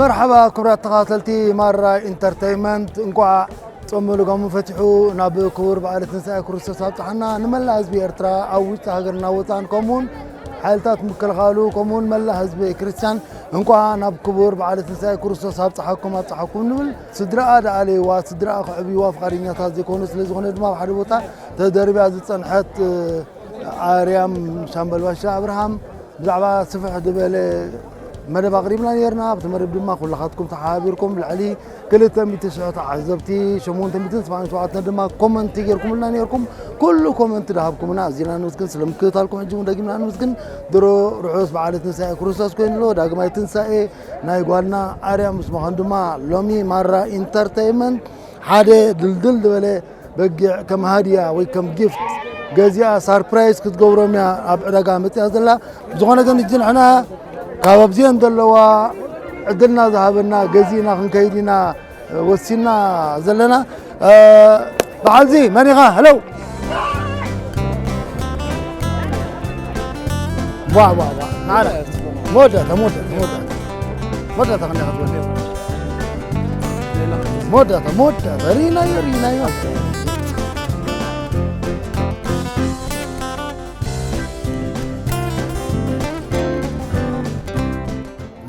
መርሓባ ክብራት ተኸታተልቲ ማራ ኢንተርተይመንት እንኳዕ ጾም ልጓሙ ፈቲሑ ናብ ክቡር በዓል ትንሳኤ ክርስቶስ ኣብፅሓና ንመላእ ህዝቢ ኤርትራ ኣብ ውሽጢ ሃገርና ወፃን ከምኡውን ሓይልታት ምክልኻሉ ከምኡውን መላእ ህዝቢ ክርስቲያን እንቋዕ ናብ ክቡር በዓለ ትንሳኤ ክርስቶስ ኣብጽሓኩም ኣብጽሓኩም ንብል። ስድራኣ ደኣለይዋ፣ ስድራኣ ክዕብይዋ ፍቓደኛታት ዘይኮኑ፣ ስለ ዝኾነ ድማ ኣብ ሓደ ቦታ ተደርብያ ዝጸንሐት ኣርያም ሻምበል ባሻ ኣብርሃም ብዛዕባ ስፍሕ ዝበለ መደብ ኣቕሪብና ኔርና። ኣብቲ መደብ ድማ ኩላኻትኩም ተሓባቢርኩም ልዕሊ ክልተ ሚእቲ ሽሕ ተዓዘብቲ ሸሞንተ ሚእትን ሰብዓን ሸውዓተን ድማ ኮመንቲ ጌርኩምልና ኔርኩም ኩሉ ኮመንቲ ድሃብኩምና ኣዚና ንምስግን ስለ ምክትታልኩም ሕጂ እውን ደጊምና ንምስግን ድሮ ርሑስ በዓለ ትንሳኤ ክርስቶስ ኮይኑ ኣሎ ዳግማይ ትንሳኤ ናይ ጓልና ኣርያ ምስ ምዃኑ ድማ ሎሚ ማራ ኢንተርተይመንት ሓደ ድልድል ዝበለ በጊዕ ከም ሃድያ ወይ ከም ጊፍት ገዚኣ ሳርፕራይዝ ክትገብሮም እያ ኣብ ዕዳጋ መፅያ ዘላ ብዝኾነ ግን እጂ ንሕና ካብ ኣብዚአን ዘለዋ ዕድልና ዝሃበና ገዚእና ክንከይድ ኢና ወሲና ዘለና በዓልዚ መን ኢኻ ሄለው ዋ ዋ ዋ መወዳእታ መወዳእታ መወዳእታ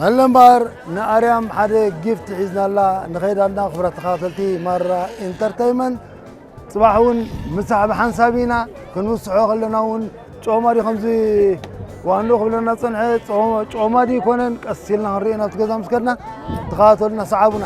መለምባር ንኣርያም ሓደ ጊፍት ሒዝናላ ንኸይድ ኣና ክብራት ተኻተልቲ ማራ ኢንተርተይመንት ጽባሕ እውን ምሳሕ ብሓንሳብ ኢና ክንውስሖ ከለና እውን ጮማ ድዩ ከምዚ ዋንዶ ክብለና ዝጸንሐ ጮማ ድዩ ይኮነን ቀስ ኢልና ክንርኢ ናብቲ ገዛ ምስ ከድና ተኸታተሉና ሰዓቡና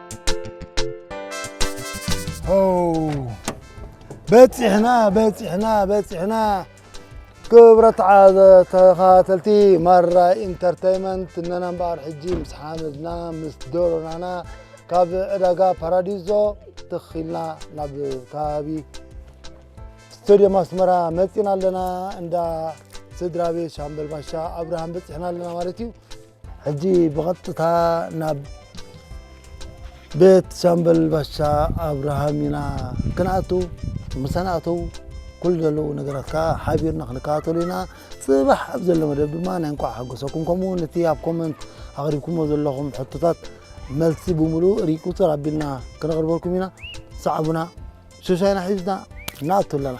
በፂሕና በፂሕና በፂሕና ክብረት ዓዘ ተኸታተልቲ ማራ ኢንተርተይመንት እነና እምበኣር ሕጂ ምስ ሓመድና ምስ ዶሮናና ካብ ዕዳጋ ፓራዲዞ ትኽልና ናብ ከባቢ ስቴድዮም ኣስመራ መፂና ኣለና እንዳ ስድራ ቤት ሻምበል ባሻ ኣብርሃም በፂሕና ኣለና ማለት እዩ ሕጂ ብቐጥታ ናብ ቤት ሻምበል ባሻ ኣብርሃም ኢና ክንኣቱ ምሳና ኣተው ኩሉ ዘለዉ ነገራት ከዓ ሓቢርና ክንከታተሉ ኢና ፅባሕ ኣብ ዘሎ መደብ ድማ ናይ እንኳዕ ሓጎሰኩም ከምኡ እውን እቲ ኣብ ኮመንት ኣቕሪብኩሞ ዘለኹም ሕቶታት መልሲ ብምሉኡ ርኢ ቁፅር ኣቢልና ክነቕርበልኩም ኢና ሰዓቡና ሸሻይና ሒዝና ንኣቱ ኣለና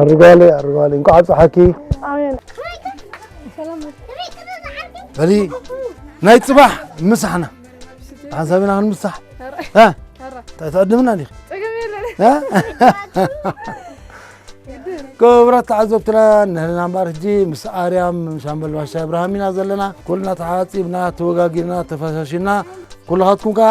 ኣርጓለይ ኣርጓለይ እንኳዕ ኣብፀሓኪ በሊ ናይ ፅባሕ ምሳሕና ሓንሳብ ኢና ክንምሳሕ እንታይ ትዕድምና ዲኺ ክቡራት ተዓዘብትና ንህልና እምበር ሕጂ ምስ ኣርያም ሻምበል ባሻ ኣብርሃም ኢና ዘለና ኩልና ተሓፂብና ተወጋጊርና ተፈሻሽና ኩልኻትኩም ከዓ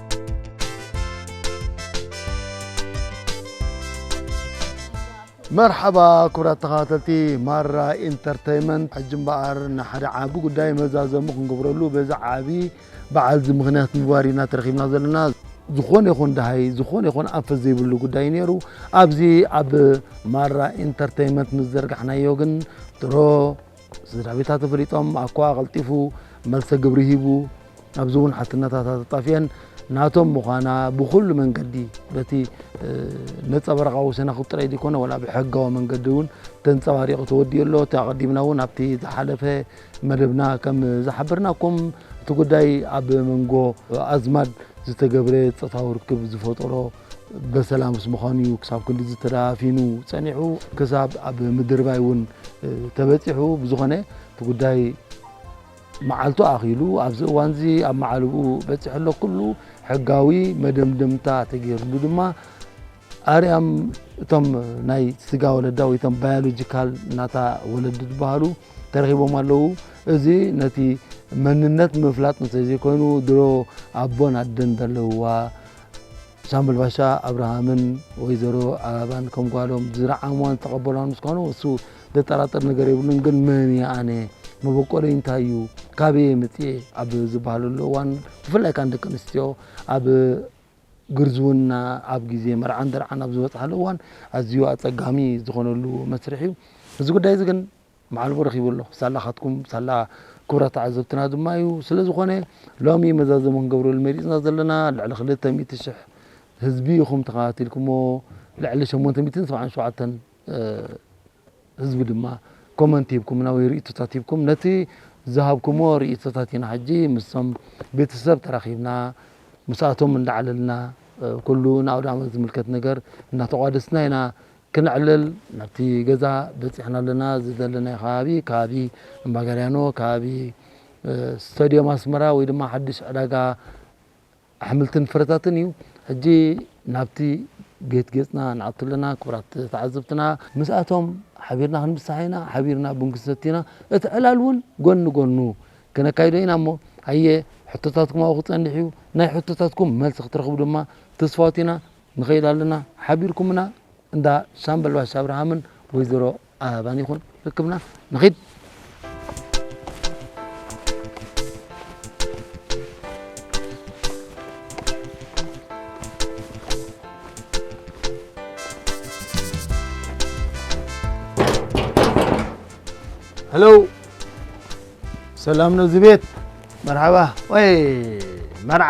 መርሓባ ክብራት ተኸታተልቲ ማራ ኢንተርተይመንት፣ ሕጂ እምበኣር ንሓደ ዓቢ ጉዳይ መዛዘሚ ክንገብረሉ በዚ ዓቢ በዓል እዚ ምኽንያት ምግባር ኢና ተረኺብና ዘለና። ዝኾነ ይኹን ደሃይ ዝኾነ ይኹን ኣንፈት ዘይብሉ ጉዳይ እዩ ነይሩ። ኣብዚ ኣብ ማራ ኢንተርተይመንት ምስ ዘርጋሕናዮ ግን ድሮ ስድራቤታ ተፈሊጦም ኣኳ ቀልጢፉ መልሰ ግብሪ ሂቡ ኣብዚ እውን ሓትነታታ ተጣፊኤን ናቶም ምዃና ብኩሉ መንገዲ በቲ ነፀበረቓዊ ሰነኽ ጥራይ ዘይኮነ ወላ ብሕጋዊ መንገዲ እውን ተንፀባሪቑ ተወዲኡ ኣሎ እቲ ኣቐዲምና እውን ኣብቲ ዝሓለፈ መደብና ከም ዝሓበርናኩም እቲ ጉዳይ ኣብ መንጎ ኣዝማድ ዝተገብረ ፆታዊ ርክብ ዝፈጠሮ በሰላምስ ምዃኑ እዩ ክሳብ ክንድዚ ተዳፊኑ ጸኒሑ ክሳብ ኣብ ምድርባይ እውን ተበጺሑ ብዝኾነ እቲ ጉዳይ መዓልቱ ኣኺሉ ኣብዚ እዋን እዚ ኣብ መዓልብኡ በጺሑ ኣሎ ኩሉ ሕጋዊ መደምደምታ ተገይርሉ ድማ ኣርያም እቶም ናይ ስጋ ወለዳ ወይ እቶም ባዮሎጂካል እናታ ወለዲ ዝበሃሉ ተረኺቦም ኣለዉ እዚ ነቲ መንነት ምፍላጥ እንተዘይኮይኑ ድሮ ኣቦን ኣደን ዘለውዋ ሻምበል ባሻ ኣብርሃምን ወይዘሮ ኣበባን ከም ጓሎም ዝረዓምዋን ዝተቐበሏን ምስ ኳኑ እሱ ዘጠራጥር ነገር የብሉን። ግን መን እየ ኣነ መበቆለይ እንታይ እዩ ካበየ መፅኤ ኣብ ዝበሃለሉ እዋን ብፍላይ ካን ደቂ ኣንስትዮ ኣብ ግርዝውና ኣብ ግዜ መርዓን ደርዓን ኣብ ዝበፅሓሉ እዋን ኣዝዩ ኣፀጋሚ ዝኾነሉ መስርሕ እዩ። እዚ ጉዳይ እዚ ግን መዓልቦ ረኺቡ ኣሎ። ሳላኻትኩም፣ ሳላ ክቡራት ተዓዘብትና ድማ እዩ። ስለ ዝኾነ ሎሚ መዛዘሚ ክንገብረሉ መሪጽና ዘለና ልዕሊ ክልተ ሚእቲ ሽሕ ህዝቢ ኢኹም ተኸታቲልኩሞ። ልዕሊ ሸሞንተ ሚእትን ሰብዓን ሸውዓተን ህዝቢ ድማ ኮመንት ሂብኩምና ወይ ርእይቶታት ሂብኩም ነቲ ዝሃብኩሞ ርእይቶታት ኢና ሕጂ ምስቶም ቤተሰብ ተራኺብና ምስኣቶም እንዳዓለልና ኩሉ ንኣውደ ዓመት ዝምልከት ነገር እናተቋደስና ኢና ክነዕልል ናብቲ ገዛ በጺሕና ኣለና። እዚ ዘለናዮ ከባቢ ከባቢ እምባጋርያኖ ከባቢ ስታድዮም ኣስመራ ወይ ድማ ሓድሽ ዕዳጋ ኣሕምልትን ፍረታትን እዩ። ሕጂ ናብቲ ጌት ጌጽና ንኣቱ ኣለና ክቡራት ተዓዘብትና። ምስኣቶም ሓቢርና ክንብሳሕ ኢና፣ ሓቢርና ቡን ክንሰቲ ኢና፣ እቲ ዕላል እውን ጎን ንጎኑ ክነካይዶ ኢና እሞ ሃየ ሕቶታትኩም ኣብኡ ክጸንሕ እዩ። ናይ ሕቶታትኩም መልሲ ክትረኽቡ ድማ ትስፋዎት ኢና። ንኸይድ ኣለና ሓቢርኩምና እንዳ ሻምበል ባሻ ኣብርሃምን ወይዘሮ ኣበባን ይኹን ርክብና ንኺድ። ሄሎ ሰላም ነው እዚህ ቤት መርሓባ ወይ መርዓ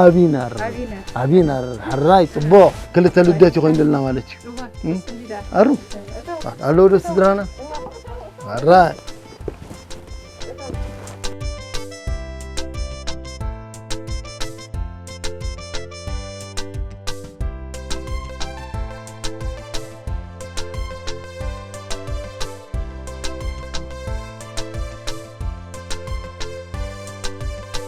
ኣቢነር ኣቢነር ሕራይ ፅቡቕ ክልተ ልደት ይኮይኑልና ማለት እዩ ኣሩ ኣለዉ ዶ ስድራና ሕራይ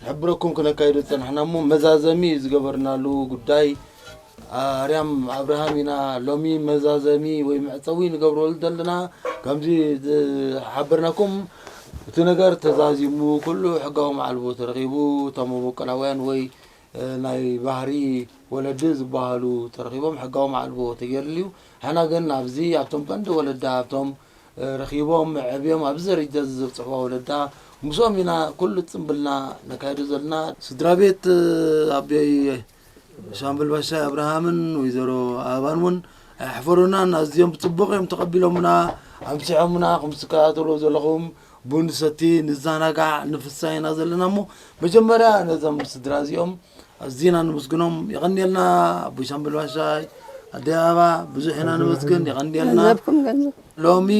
ክሕብረኩም ክነካይዶ ዝጸናሕና እሞ መዛዘሚ ዝገበርናሉ ጉዳይ ኣርያም ኣብርሃም ኢና ሎሚ መዛዘሚ ወይ መዕጸዊ ንገብረሉ ዘለና ከምዚ ዝሓበርናኩም እቲ ነገር ተዛዚሙ ኩሉ ሕጋዊ መዓልቦ ተረኺቡ እቶም መበቆላውያን ወይ ናይ ባህሪ ወለዲ ዝበሃሉ ተረኺቦም ሕጋዊ መዓልቦ ተገይርሉ እዩ። ሕና ግን ኣብዚ ኣብቶም ቀንዲ ወለዲ ኣብቶም ረኺቦም ኣዕብዮም ኣብዚ ደረጃ እዚ ዘብጽሕዋ ወለዳ ምስኦም ኢና ኩሉ ጽምብልና ነካይዶ ዘለና። ስድራቤት ኣቦይ ሻምበል ባሻይ ኣብርሃምን ወይዘሮ ኣበባን እውን ኣየሕፈሩናን፣ ኣዝዮም ብጽቡቕ እዮም ተቐቢሎምና፣ ኣምሲሖምና፣ ከምዚ ትከታተልዎ ዘለኹም ቡን ንሰቲ፣ ንዘናጋዕ፣ ንፍሳህ ኢና ዘለና እሞ መጀመርያ ነዞም ስድራ እዚኦም ኣዚና ነመስግኖም የቀንየልና ኣቦይ ሳምበል ባሻይ ኣደይ ኣበባ ብዙሕ ኢና ነመስግን የቀንየልና ገንዘብኩም ገንዘብ ሎሚ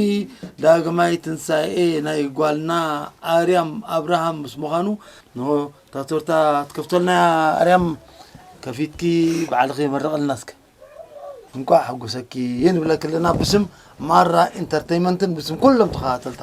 ዳግማይ ትንሳኤ ናይ ጓልና ኣርያም ኣብርሃም ምስ ምዃኑ ንሆ እታ ቶርታ ትከፍተልና እያ ኣርያም ከፊትኪ ባዕልኺ መረቐልና እስከ እንኳዕ ሓጎሰኪ ንብለኪ ኣለና ብስም ማራ ኢንተርተይመንትን ብስም ኩሎም ተኸታተልታ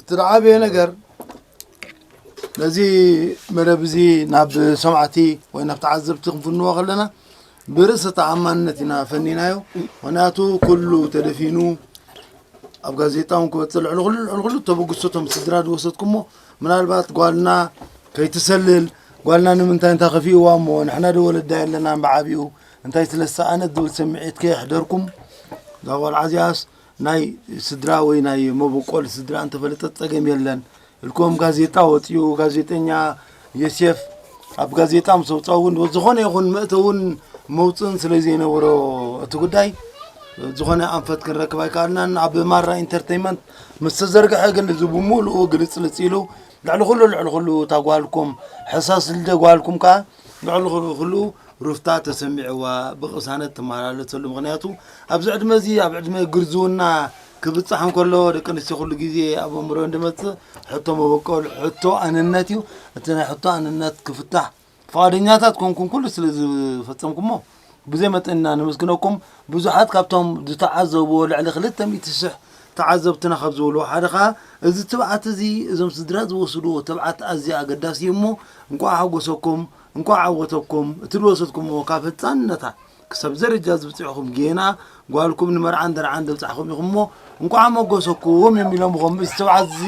እቲ ዝዓበየ ነገር ነዚ መደብ እዚ ናብ ሰማዕቲ ወይ ናብ ተዓዘብቲ ክንፍንዎ ከለና ብርእሰ ተኣማንነት ኢና ፈኒናዮ ምክንያቱ ኩሉ ተደፊኑ ኣብ ጋዜጣ እውን ክበፅእ ልዕሊ ኩሉ ልዕሊ ኩሉ ተበግሶ እቶም ስድራ ዝወሰድኩሞ ምናልባት ጓልና ከይትሰልል ጓልና ንምንታይ እንታይ ከፊእዋ እሞ ንሕና ዶ ወለዳ የለናን ብዓብኡ እንታይ ስለ ዝሰኣነት ዝብል ስምዒት ከየሕደርኩም እዛ ቆልዓ እዚኣስ ናይ ስድራ ወይ ናይ መበቆል ስድራ እንተፈለጠት ጸገም የለን እልኩም ጋዜጣ ወፅኡ ጋዜጠኛ የሴፍ ኣብ ጋዜጣ ምስ ኣውፅኣ እውን ዝኾነ ይኹን መእተውን መውፅእን ስለ ዘይነበሮ እቲ ጉዳይ ዝኾነ ኣንፈት ክንረክብ ኣይከኣልናን ኣብ ማራ ኢንተርቴንመንት ምስ ተዘርግሐ ግን እዚ ብምሉኡ ግልፅልፅ ኢሉ ልዕሊ ኩሉ ልዕሊ ኩሉ እታ ጓልኩም ሕሳስ ልደ ጓልኩም ከዓ ልዕሊ ኹሉ ሩፍታ ተሰሚዕዋ ብቕሳነት ትመላለሰሉ ምኽንያቱ ኣብዚ ዕድመ እዚ ኣብ ዕድመ ግርዝውና ክብፃሕ እንከሎ ደቂ ኣንስትዮ ኩሉ ግዜ ኣብ ኣእምሮን ዝመፅእ ሕቶ መበቆል ሕቶ ኣንነት እዩ እቲ ናይ ሕቶ ኣንነት ክፍታሕ ፍቓደኛታት ኮንኩም ኩሉ ስለ ዝፈፀምኩሞ ብዘይ መጠን ኢና ነመስግነኩም። ብዙሓት ካብቶም ዝተዓዘብዎ ልዕሊ ክልተ ሚእቲ ሽሕ ተዓዘብትና ካብ ዝብልዎ ሓደ ከኣ እዚ ትብዓት እዚ እዞም ስድራ ዝወስድዎ ትብዓት ኣዝዩ ኣገዳሲ እዩ እሞ እንቋዕ ሓጎሰኩም እንቋዕ ዓወተኩም እቲ ዝወሰድኩምዎ ካብ ህጻንነታ ክሳብ እዚ ደረጃ ዝብጽሕኹም ጌና ጓልኩም ንመርዓን ደርዓን ዘብጻሕኹም ኢኹም እሞ እንቋዕ ኣሞጎሰኩም እዮም ኢሎምኹም እዚ ትብዓት እዚ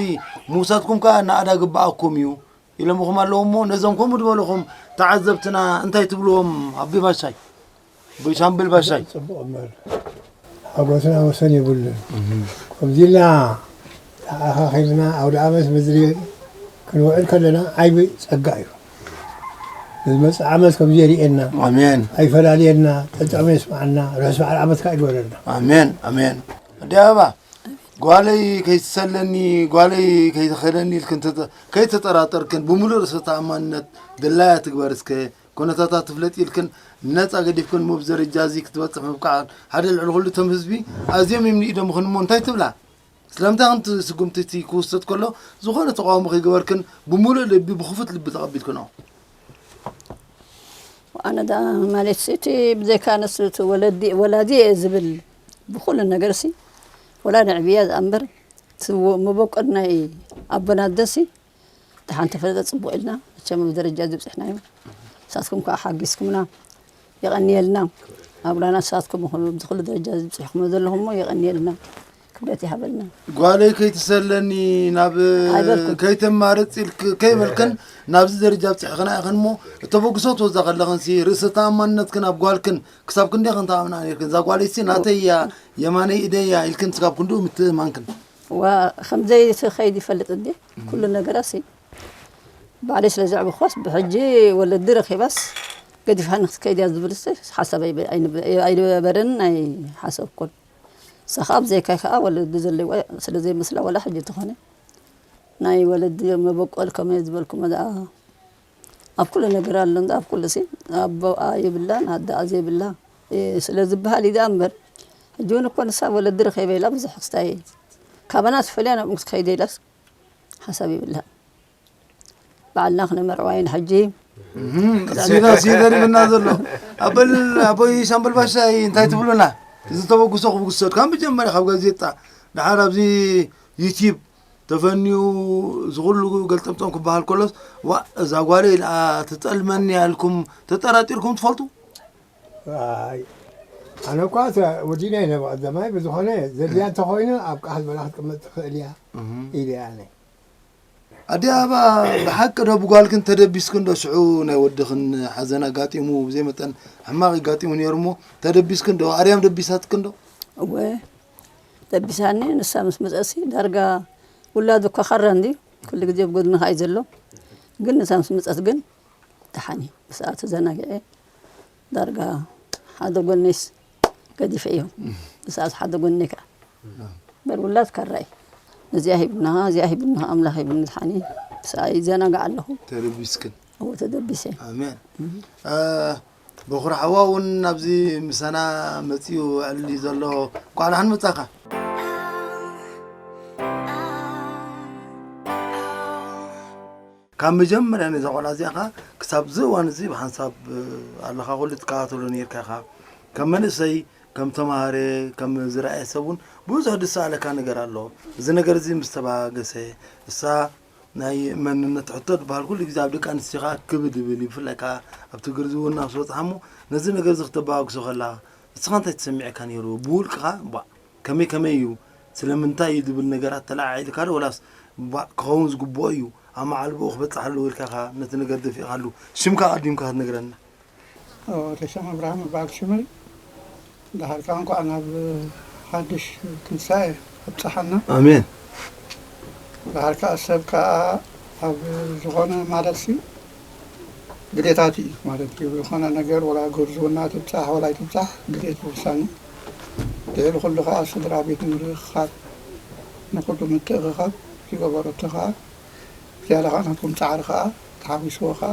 ምውሳድኩም ከኣ ናእዳ ግብኣኩም እዩ ኢሎምኹም ኣለዉ እሞ ነዞም ከምኡ ዝበልኹም ተዓዘብትና እንታይ ትብልዎም ኣቢ ባሻይ ሻምብል ባሻይ ፅቡቕ እምበር ሓጎስና ወሰን የብሉን ከምዚ ኢልና ተኣኻኺብና ኣውደ ዓመት ምድሪ ክንውዕል ከለና ዓይቢ ፀጋ እዩ ንዝመፅእ ዓመት ከምዚ የርእየና ኣሜን ኣይፈላለየና ጠጠመ የስማዓና ርሑስ በዓል ዓመት ከዓ ይግበረልና ኣሜን ኣሜን ኣዲ ኣበባ ጓለይ ከይትሰለኒ ጓለይ ከይትኸደኒ ኢልክን ከይተጠራጠርክን ብምሉእ ርእሰ ተኣማንነት ድላያ ትግበር እስከ፣ ኩነታታ ትፍለጥ ኢልክን ነጻ ገዲፍክን እሞ ብዘረጃ እዚ ክትበጽሕ ምብቃዕክን ሓደ ልዕሊ ኩሉ እቶም ህዝቢ ኣዝዮም እዮም ንኢዶም እኽን እሞ እንታይ ትብላ? ስለምንታይ ከምቲ ስጉምቲ እቲ ክውሰድ ከሎ ዝኾነ ተቓውሞ ከይገበርክን ብምሉእ ልቢ ብክፉት ልቢ ተቐቢልክንኦ? ኣነ ደኣ ማለት እቲ ብዘይካ ንስ ወለዲ ወላዲ እየ ዝብል ብኩሉ ነገርሲ ወላ ንዕብያ ዝኣምበር እቲ መበቆል ናይ ኣቦና ልደትሲ ደሓን ተፈለጠ ጽቡቕ ኢልና መቸም ኣብ ደረጃ እዚ ብጽሕናዮ ንሳትኩም ከዓ ሓጊዝኩምና የቐንየልና ኣብራና ንሳትኩም ይኹኑ እዚ ኩሉ ደረጃ እዚ ብጽሕኹሞ ዘለኹምሞ የቐንየልና ክብረት ይሃበልና ጓለይ ከይትሰለኒ ናብ ኣይበልኩም። ከይተማርፅ ኢልክ ከይበልክን ናብዚ ደረጃ ብፅሕኽና ኢኽን እሞ እተበግሶ ትወዛ ከለኽንሲ ርእሰ ተኣማንነትክን ኣብ ጓልክን ክሳብ ክንደይ ክንታኣምና ነርክን እዛ ጓለይሲ ናተይ እያ የማነይ ኢደይ እያ ኢልክን ስጋብ ክንድኡ ምትእምማንክን ከምዘይ ከይድ ይፈልጥ እንዲ ኩሉ ነገራሲ ባዕለይ ስለ ዘዕብኳስ ብሕጂ ወለዲ ረኺባስ ገዲፋ ንክትከይድ እያ ዝብል ሓሳብ ኣይነበረን ናይ ሓሰብኩን እሳ ከዓ ብዘይካይ ከዓ ወለዲ ዘለዋ ስለ ዘይመስላ ወላ ሕጂ ተኾነ ናይ ወለዲ መበቆል ከመይ ዝበልኩ መኣ ኣብ ኩሉ ነገር ኣሎ እንዳ ኣብ ኩሉ ሲ ኣቦኣ የብላን ኣደኣ ዘይብላ ስለ ዝብሃል እዩ ደኣ እምበር ሕጂ ውን እኮ ንሳ ወለዲ ረኺበ ኢላ ብዙሕ ክስታይ እየ ካባና ተፈልያ ናብኡ ክትከይድ ኢላስ ሓሳብ የብልሃን ባዕልና ክነመርዕዋ ኢና ሕጂ ሲዳስ እዩ ገሪምና ዘሎ ኣበል ኣቦይ ሻምበል ባሻ እንታይ ትብሉና እዚ ተበግሶ ክብግሶ ካብ መጀመርያ ካብ ጋዜጣ ድሓር ኣብዚ ዩቲብ ተፈንዩ እዚ ኩሉ ገልጠምጠም ክበሃል ከሎስ ዋእ እዛ ጓለይ ደኣ ትጠልመኒ እያ ኢልኩም ተጠራጢርኩም ትፈልጡ? ኣይ ኣነ እኳ ወዲና ኢለ ብቐዳማይ ብዝኾነ ዘድልያ እንተኾይኑ ኣብ ቃህል በላ ክትቅመጥ ትኽእል እያ ኢለ ኣነ ኣዲኣ እባ ብሓቂ ዶ ብጓልክን ተደቢስክን ዶ ሽዑ ናይ ወድኽን ሓዘን ኣጋጢሙ ብዘይ መጠን ሕማቕ ይጋጢሙ ነይሩ እሞ ተደቢስክን ዶ ኣርያም ደቢሳትክን ዶ እወ ደቢሳኒ ንሳ ምስ መጸትሲ ዳርጋ ውላዱ እኳ ካራ እንድዩ ኩሉ ግዜ ኣብ ጎድንኻ እዩ ዘሎ ግን ንሳ ምስ መጸት ግን ደሓን እዩ ብሰኣ ተዘናጊዐ ዳርጋ ሓደ ጎነይስ ገዲፈ እዮም ብሰኣ ሓደ ጎነይ ከዓ በር ውላድ ካራ እዩ እዚኣ ሂብና እዚኣ ሂብና ኣምላኽ ሂብኒ ዝሓኒ ሰኣይ ዘናጋዕ ኣለኹ ተደቢስክን እዎ ተደቢሰ ኣሜን በኹሪ ሓዋ እውን ናብዚ ምሳና መፂኡ ውዕል እዩ ዘሎ እንኳዕ ደሓን መፃኻ ካብ መጀመርያ ነዛ ቆልዓ እዚኣ ኸዓ ክሳብ እዚ እዋን እዚ ብሓንሳብ ኣለኻ ኩሉ ትከታተሎ ነርካ ኢኻ ከም መንእሰይ ከም ተምሃረ ከም ዝረኣየ ሰብ እውን ብዙሕ ዝሰኣለካ ነገር ኣሎ እዚ ነገር እዚ ምስ ተበጋገሰ እሳ ናይ መንነት ሕቶ ድበሃል ኩሉ ግዜ ኣብ ደቂ ኣንስትዮ ከዓ ክብድ ይብል እዩ ብፍላይ ከዓ ኣብ ትግር ዝውና ምስ በፅሓ እሞ ነዚ ነገር እዚ ክተበጋግሶ ከላ ንስኻ እንታይ ተሰሚዐካ ነይሩ ብውልቅኻ ባ ከመይ ከመይ እዩ ስለምንታይ እዩ ዝብል ነገራት ተለዓዒልካ ዶ ወላስ ባ ክኸውን ዝግብኦ እዩ ኣብ መዓልብኡ ክበፅሕ ኣለዎ ኢልካ ኢኻ ነቲ ነገር ደፊእኻሉ ሽምካ ኣቐዲምካ ክትነግረና ወደሰን ኣብርሃም እበሃል ሽመይ ደሓር ከኣ እንኳዕ ናብ ሓድሽ ትንሳኤ ኣብጽሓና ኣሜን። ደሓር ከኣ ሰብ ከኣ ኣብ ዝኾነ ማለትሲ ግዴታት እዩ ማለት እዩ ዝኾነ ነገር ወላ ጉብዝውና ትብጻሕ ወላ ኣይትብጻሕ ግዴት ውሳኔ ልዕሊ ኩሉ ከኣ ስድራ ቤት ምርኽኻብ ንኹሉ ምትእኽኻብ ዝገበረቶ ከኣ ዝያዳ ከኣ ናትኩም ጻዕሪ ከኣ ተሓዊስዎ ከኣ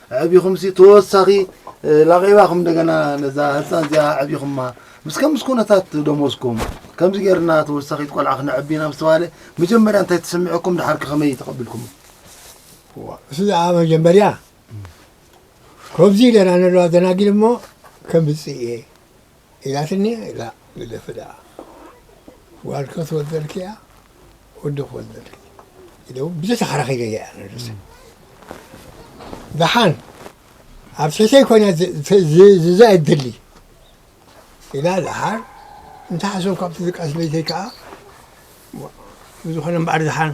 ኣዕቢኹምሲ ተወሳኺ ላቒባኹም እንደገና ነዛ ህፃን እዚኣ ኣዕቢኹማ ምስ ከምስ ኩነታት ደሞዝኩም ከምዚ ጌርና ተወሳኺት ቆልዓ ክነዕቢ ኢና ምስ ተባህለ መጀመርያ እንታይ ተሰሚዑኩም ድሓርክ ከመይ ተቐቢልኩም እሱ ዝኣ መጀመርያ ከምዚ ኢለና ንለዋ ደናጊል እሞ ከምፅእ እየ ኢላትኒ ኢላ ግደፊ ደኣ ጓል ክትወልደልኪ ኢያ ወዲ ክወልደልኪ ኢለ ውን ብዙሕ ተኸራኺረ ኢየ ኣነ ርእሰይ ደሓን ኣብ ትሕተይ ኮይና ዝዛ እድሊ ኢላ ደሓር እንተ ሓሶም ካብቲ ዝቃስ ለይተይ ከኣ ብዝኾነ እምበኣር ደሓን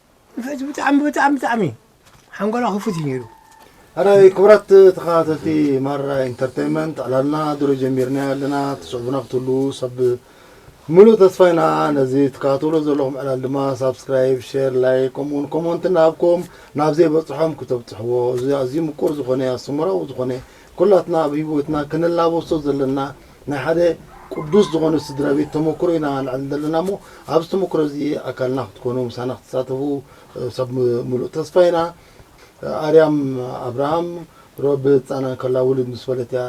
ሕጂ ብጣዕሚ ብጣዕሚ ብጣዕሚ ሓንጎላ ክፉት እዩ ነይሩ። ኣራይ ክቡራት ተኸታተልቲ ማራ ኢንተርተይመንት ዕላልና ድሮ ጀሚርና ኣለና ትስዕቡና ክትህልዉ ሰብ ምሉእ ተስፋ ኢና ነዚ ትከታተሉ ዘለኹም ዕላል ድማ ሳብስክራይብ ሼር ላይክ ከምኡውን ኮመንት እናሃብኩም ናብ ዘይበፅሖም ክተብፅሕዎ እዚ ኣዝዩ ምቁር ዝኾነ ኣስተምራዊ ዝኾነ ኩላትና ኣብ ሂወትና ክንላበሶ ዘለና ናይ ሓደ ቅዱስ ዝኾነ ስድራ ቤት ተሞክሮ ኢና ነዕልል ዘለና እሞ ኣብዚ ተሞክሮ እዚ ኣካልና ክትኮኑ ምሳና ክትሳተፉ ሰብ ምሉእ ተስፋ ኢና። ኣርያም ኣብርሃም ሮብ ህጻና ከላ ውልድ ምስ በለት እያ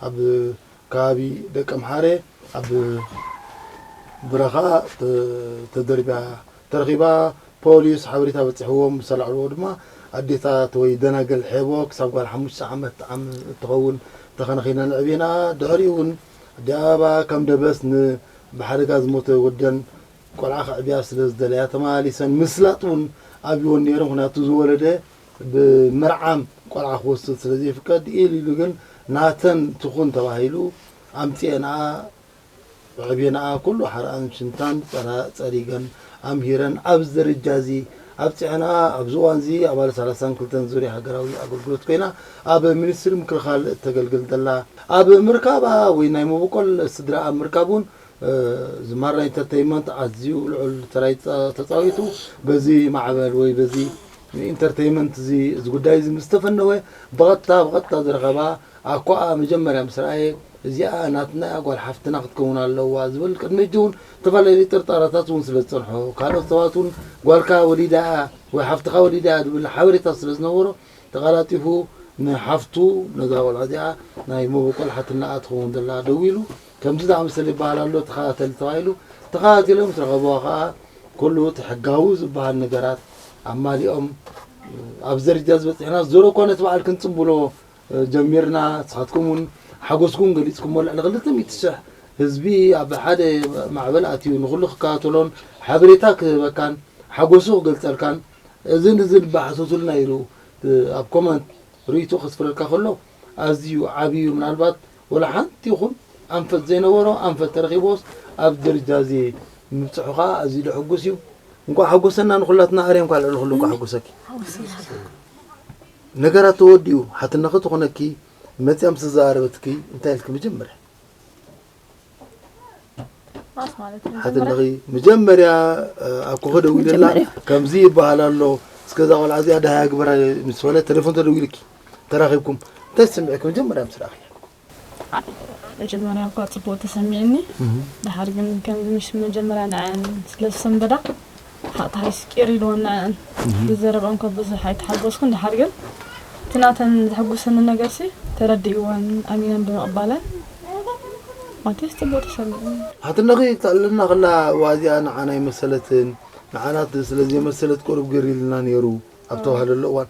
ኣብ ከባቢ ደቀምሓረ ኣብ ብረኻ ተደርቢያ ተረኺባ ፖሊስ ሓበሬታ በጺሕዎም ምስ ኣላዕልዎ ድማ ኣዴታት ወይ ደናግል ሔቦ ክሳብ ጓል ሓሙሽተ ዓመት ዓም እትኸውን ተኸናኺነን ኣዕብየንኣ። ድሕሪኡ እውን ኣዲኣ ኣብኣ ከም ደበስ ን ብሓደጋ ዝሞተ ወደን ቆልዓ ከዕብያ ስለ ዝደለያ ተመላሊሰን ምስላጥ እውን ኣብይወን ነይሩ ምኽንያቱ ዝወለደ ብ ምርዓም ቆልዓ ክወስድ ስለ ዘይፍቀድ ኢሉ ኢሉ ግን ናተን ትኹን ተባሂሉ ኣምጺኤንኣ ብዕቤናኣ ኩሉ ሓርኣን ሽንታን ጸሪገን ኣምሂረን ኣብዚ ደረጃ እዚ ኣብጺሐንኣ። ኣብዚ እዋንዚ ኣባል ሰላሳን ክልተን ዙርያ ሃገራዊ ኣገልግሎት ኮይና ኣብ ሚኒስትሪ ምክልኻል እተገልግል ዘላ፣ ኣብ ምርካባ ወይ ናይ መበቆል ስድራ ኣብ ምርካብ እውን ዝማራ ኢንተርተይመንት ኣዝዩ ልዑል ተራ እዩ ተጻዊቱ። በዚ ማዕበል ወይ በዚ ኢንተርተይመንት እዚ እዚ ጉዳይ እዚ ምስ ተፈነወ ብቐጥታ ብቐጥታ ዝረኸባ ኣኳኣ መጀመርያ ምስ ረኣየ እዚኣ ናትና ጓል ሓፍትና ክትከውን ኣለዋ ዝብል ቅድሚ ሕጂ ውን ዝተፈላለዩ ጥርጣረታት ውን ስለ ዝጸንሖ ካልኦት ሰባት ውን ጓልካ ወሊዳ እያ ወይ ሓፍትኻ ወሊዳ እያ ዝብል ሓበሬታ ስለ ዝነበሮ ተቓላጢፉ ንሓፍቱ ነዛ ቆልዓ እዚኣ ናይ መበቆል ሓትልና እያ ትኸውን ዘላ ደዊሉ ከምዚ ዝኣመሰለ ይበሃል ኣሎ ተኸታተል ተባሂሉ ተኸታቲሎም ምስ ረኸብዋ ከኣ ኩሉ እቲ ሕጋዊ ዝበሃል ነገራት ኣማሊኦም ኣብ እዚ ደረጃ እዚ በጺሕናስ ዞሮ እኳ ነቲ በዓል ክንጽምብሎ ጀሚርና ንስኻትኩም ውን ሓጎስኩም ገሊጽኩሞ ልዕሊ ክልተ ሚእቲ ሽሕ ህዝቢ ኣብ ሓደ ማዕበል ኣትዩ ንኹሉ ክከታተሎን ሓበሬታ ክህበካን ሓጎሱ ክገልጸልካን እዝን እዝን እባ ሓተቱልና ኢሉ ኣብ ኮመንት ርእይቶ ከስፍረልካ ከሎ ኣዝዩ ዓብዩ ምናልባት ወላ ሓንቲ ይኹን ኣንፈት ዘይነበሮ ኣንፈት ተረኺቦስ ኣብ ደረጃ እዚ ምብጽሑ ከኣ ኣዝዩ ዘሐጉስ እዩ እንኳዕ ሓጎሰና ንኹላትና ኣርያም ከኣ ልዕሊ ኩሉ እንኳዕ ሓጎሰኪ ነገራት ተወዲኡ ሓትነኺ ትኹነኪ መጽያ ምስ ተዘራረበትኪ እንታይ ኢልኪ መጀመርያ ማስ ማለት መጀመርያ ሓትነኺ መጀመርያ ኣብ ኮኸ ደዊለላ መጀመርያ። ከምዚ ይበሃል ኣሎ እስከ እዛ ቆልዓ እዚኣ ደሃያ ግበራ ምስ በለ ቴሌፎን ተደዊልኪ ተራኺብኩም እንታይ ስምዒኪ መጀመርያ ምስ ረኣኺ መጀመርያ እኳ ጽቡቅ ተሰሚዕኒ ደሓር ግን ከምዚ ምሽ መጀመርያ ንዐኣን ስለ ዝሰንበዳ ብሓቅ ተሓጊሱ ቂር ኢልወን ንዐኣን ብዘረብኣን እኳ ብዙሕ ኣይተሓጎስኩን ደሓር ግን እቲ ናተን ዘሕጉሰኒ ነገርሲ ተረዲእወን ኣሚነን ብምቅባለን ማቴስ ጽቡቅ ተሰሚዕኒ። ሓትነኺ ትዕልለና ከላ እዋ እዚኣ ንዓና ኣይመሰለትን ንዓና ስለ ዘይመሰለት ቁሩብ ግር ኢሉና ኔሩ ኣብ ተባህለሉ እዋን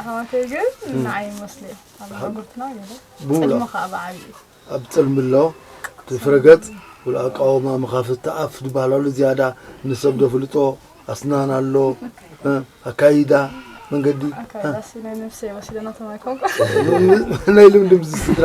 ኣሕዋተይ ግን ንዓይ መስለ ኣብጉርትና ገለ ፅልሚ ከዓ ብዓብዩ ኣብ ፅልሚ ኣሎ ዝፍረገፅ ብሎ ኣቃወማ መኻፍቲ ኣፍ ዝበሃል ኣሎ ዝያዳ ንሰብ ዘፍልጦ ኣስናን ኣሎ ኣካይዳ መንገዲ ናይ ልምዲ ምስ ስድራ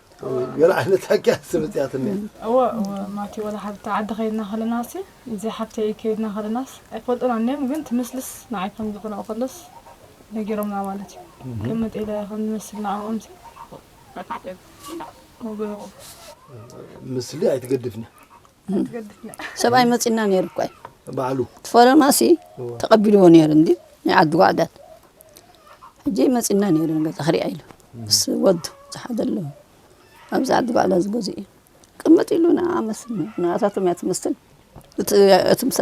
ገለ ዓይነት ሓቂ ስምፅያት እኒ እወ እወ ማቲ ወላ ሓብቲ ዓዲ ከይድና ከለና ሲ እዚ ሓብተይ ከይድና ከለናስ ኣይፈልጡን ኣንዮም ግን ትምስልስ ንዓይ ከም ዝኾነ ከሎስ ነጊሮምና ማለት እዩ ከም መጤለ ከም ዝመስል ንዕኦም ሲ ምስሊ ኣይትገድፍኒ ሰብኣይ መፂና ነይሩ እኳ ባዕሉ ፈረማሲ ተቐቢልዎ ነይሩ እንዲ ናይ ዓዲ ጓዕዳት ሕጂ መፂና ነይሩ ገዛ ክሪኣ ኢሉ ምስ ወዱ ዝሓደለ ኣብዚ ዓዲ ጓዕዳ ዝገዙ እዩ ቅምጥ ኢሉ ንዓ መስል ንኣታቶም እያ ትመስል እቲ ምሳ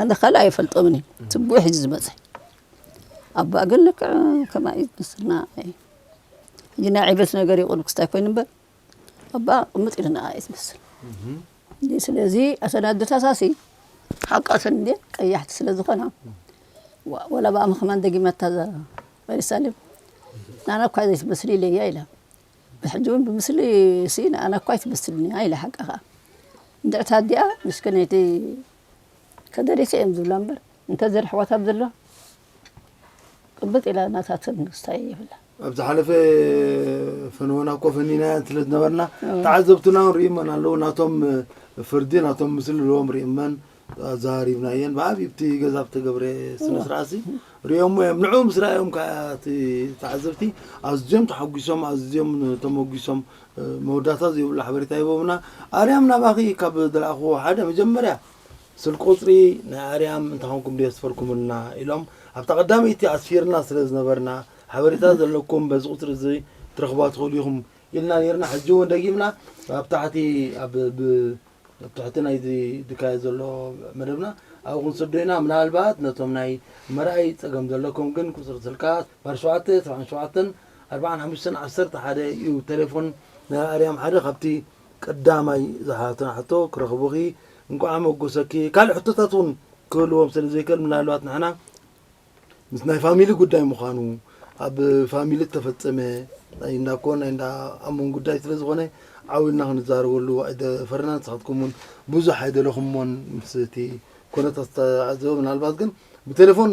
ኣነ ካልእ ኣይፈልጦምን እዩ ትብዕ ሕጂ ዝበፅሐ ኣባ ግን ልክዕ ከምኣ እዩ ዝመስልና ሕጂ ናይ ዕብት ነገር ይቕሉ ክስታይ ኮይኑ እምበር ኣባ ቅምጥ ኢልና እየ ዝመስል ስለዚ ኣተን ኣደታታሲ ሓቂ ኣተን እንዴ ቀያሕቲ ስለ ዝኾና ወላ ብኣ ምክማን ደጊመታ ሪሳሌም ንኣና እኳ ዘይትመስል ኢለያ ኢላ ብሕጂ እውን ብምስሊ ሲ ንኣና እኳ ኣይትመስልንያ ኢላ ሓቂ ከዓ እንድዕታ ኣዲኣ ምስክነይቲ ከደሪሰ እዮም ዝብላ እምበር እንተዘርሕዋታ ብ ዘሎ ቅብጥ ኢላ ናታ ትንግስታ እየ ይብላ ኣብ ዝሓለፈ ፈንወና እኮ ፈኒናያ ስለ ዝነበርና ተዓዘብትና እውን ርእመን ኣለዉ ናቶም ፍርዲ ናቶም ምስሊ ልዎም ርእመን ኣዘራሪብና እየን ብዓብዪ ብቲ ገዛ ብተገብረ ስነስርዓት ሪኦሞ እዮም ንዑ ምስ ረኣዮም ከዓ እቲ ተዓዘብቲ ኣዝዮም ተሓጒሶም ኣዝዮም ተመጒሶም መወዳእታ ዘይብሉ ሓበሬታ ሂቦምና ኣርያም ናባኺ ካብ ዝለኣኹዎ ሓደ መጀመርያ ስልክ ቁጽሪ ናይ ኣርያም እንተኾንኩም ድዮ ስፈርኩምልና ኢሎም ኣብታ ቀዳመይቲ ኣስፊርና ስለ ዝነበርና ሓበሬታ ዘለኩም በዚ ቁጽሪ እዚ ክትረኽቡዋ ትኽእሉ ኢኹም ኢልና ኔርና ሕጂ እውን ደጊምና ኣብ ታሕቲ ኣብ ብ ኣብ ትሕቲ ናይዚ ድካየድ ዘሎ መደብና ኣብኡ ክንስዶ ኢና ምናልባት ነቶም ናይ ምርኣይ ጸገም ዘለኩም ግን ቁጽሪ ስልካ ባር ሸውዓተ ሰብዓን ሸውዓተን ኣርብዓን ሓሙሽተን ዓሰርተ ሓደ እዩ ተሌፎን ናይ ኣርያም ሓደ ካብቲ ቀዳማይ ዝሓተትና ሕቶ ክረኽቡኺ እንቋዕ ኣመጎሰኪ ካልእ ሕቶታት እውን ክህልዎም ስለ ዘይክእል ምናልባት ንሕና ምስ ናይ ፋሚሊ ጉዳይ ምዃኑ ኣብ ፋሚሊ እተፈጸመ ናይ እንዳ ኮን ናይ እንዳ ኣሞን ጉዳይ ስለ ዝኾነ ዓዊልና ክንዛረበሉ ኣይደፈርናን ንስኻትኩም እውን ብዙሕ ኣይደለኹሞን ምስ እቲ ኮነታት ዝተዓዘበ ምናልባት ግን ብቴሌፎን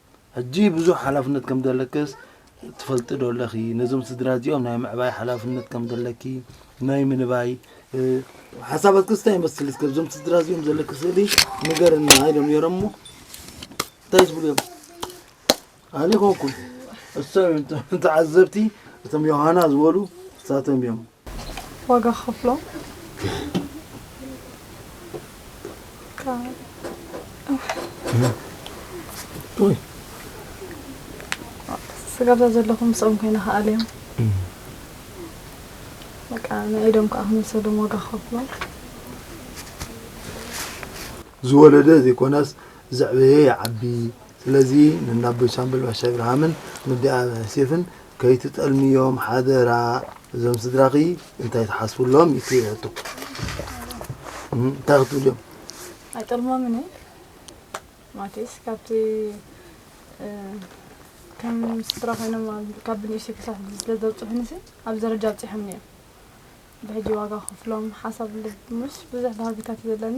ሕጂ ብዙሕ ሓላፍነት ከም ዘለክስ ትፈልጢ ዶ ኣለኺ? ነዞም ስድራ እዚኦም ናይ ምዕባይ ሓላፍነት ከም ዘለኪ ናይ ምንባይ ሓሳባትክስ እንታይ ይመስል? እስከ እዞም ስድራ እዚኦም ዘለኪ ስእሊ ንገርና ኢሎም ነይሮም እሞ እንታይ ዝብሉ እዮም? ኣነ ኮንኩ እሶም ተዓዘብቲ እቶም ዮሃና ዝበሉ እሳቶም እዮም። ዋጋ ክኸፍሎም ስጋብዛ ዘለኹም ምስኦም ኮይና ከዓ ኣልዮም በቃ ናይ ኢዶም ከዓ ክንወሰዶም ዋጋ ክኸፍሎም ዝወለደ ዘይኮነስ ዘዕበየ ይዓቢ ስለዚ ንናቦይ ሻምበል ባሻይ ብርሃምን ንዲኣ ሴፍን ከይትጠልምዮም ሓደራ እዞም ስድራኺ እንታይ ትሓስብሎም እዩ ትሪኦቶ እንታይ ክትብልዮም ኣይጠልሞምን እየ ማለትስ ካብቲ ከም ስድራ ኮይኖም ካብ ብንእሽተይ ክሳብ ስለ ዘብፅሑኒ ሲ ኣብዚ ደረጃ ኣብፂሖምኒ እዮም ብሕጂ ዋጋ ክፍሎም ሓሳብ ልብ ምስ ብዙሕ ባህግታት ዘለኒ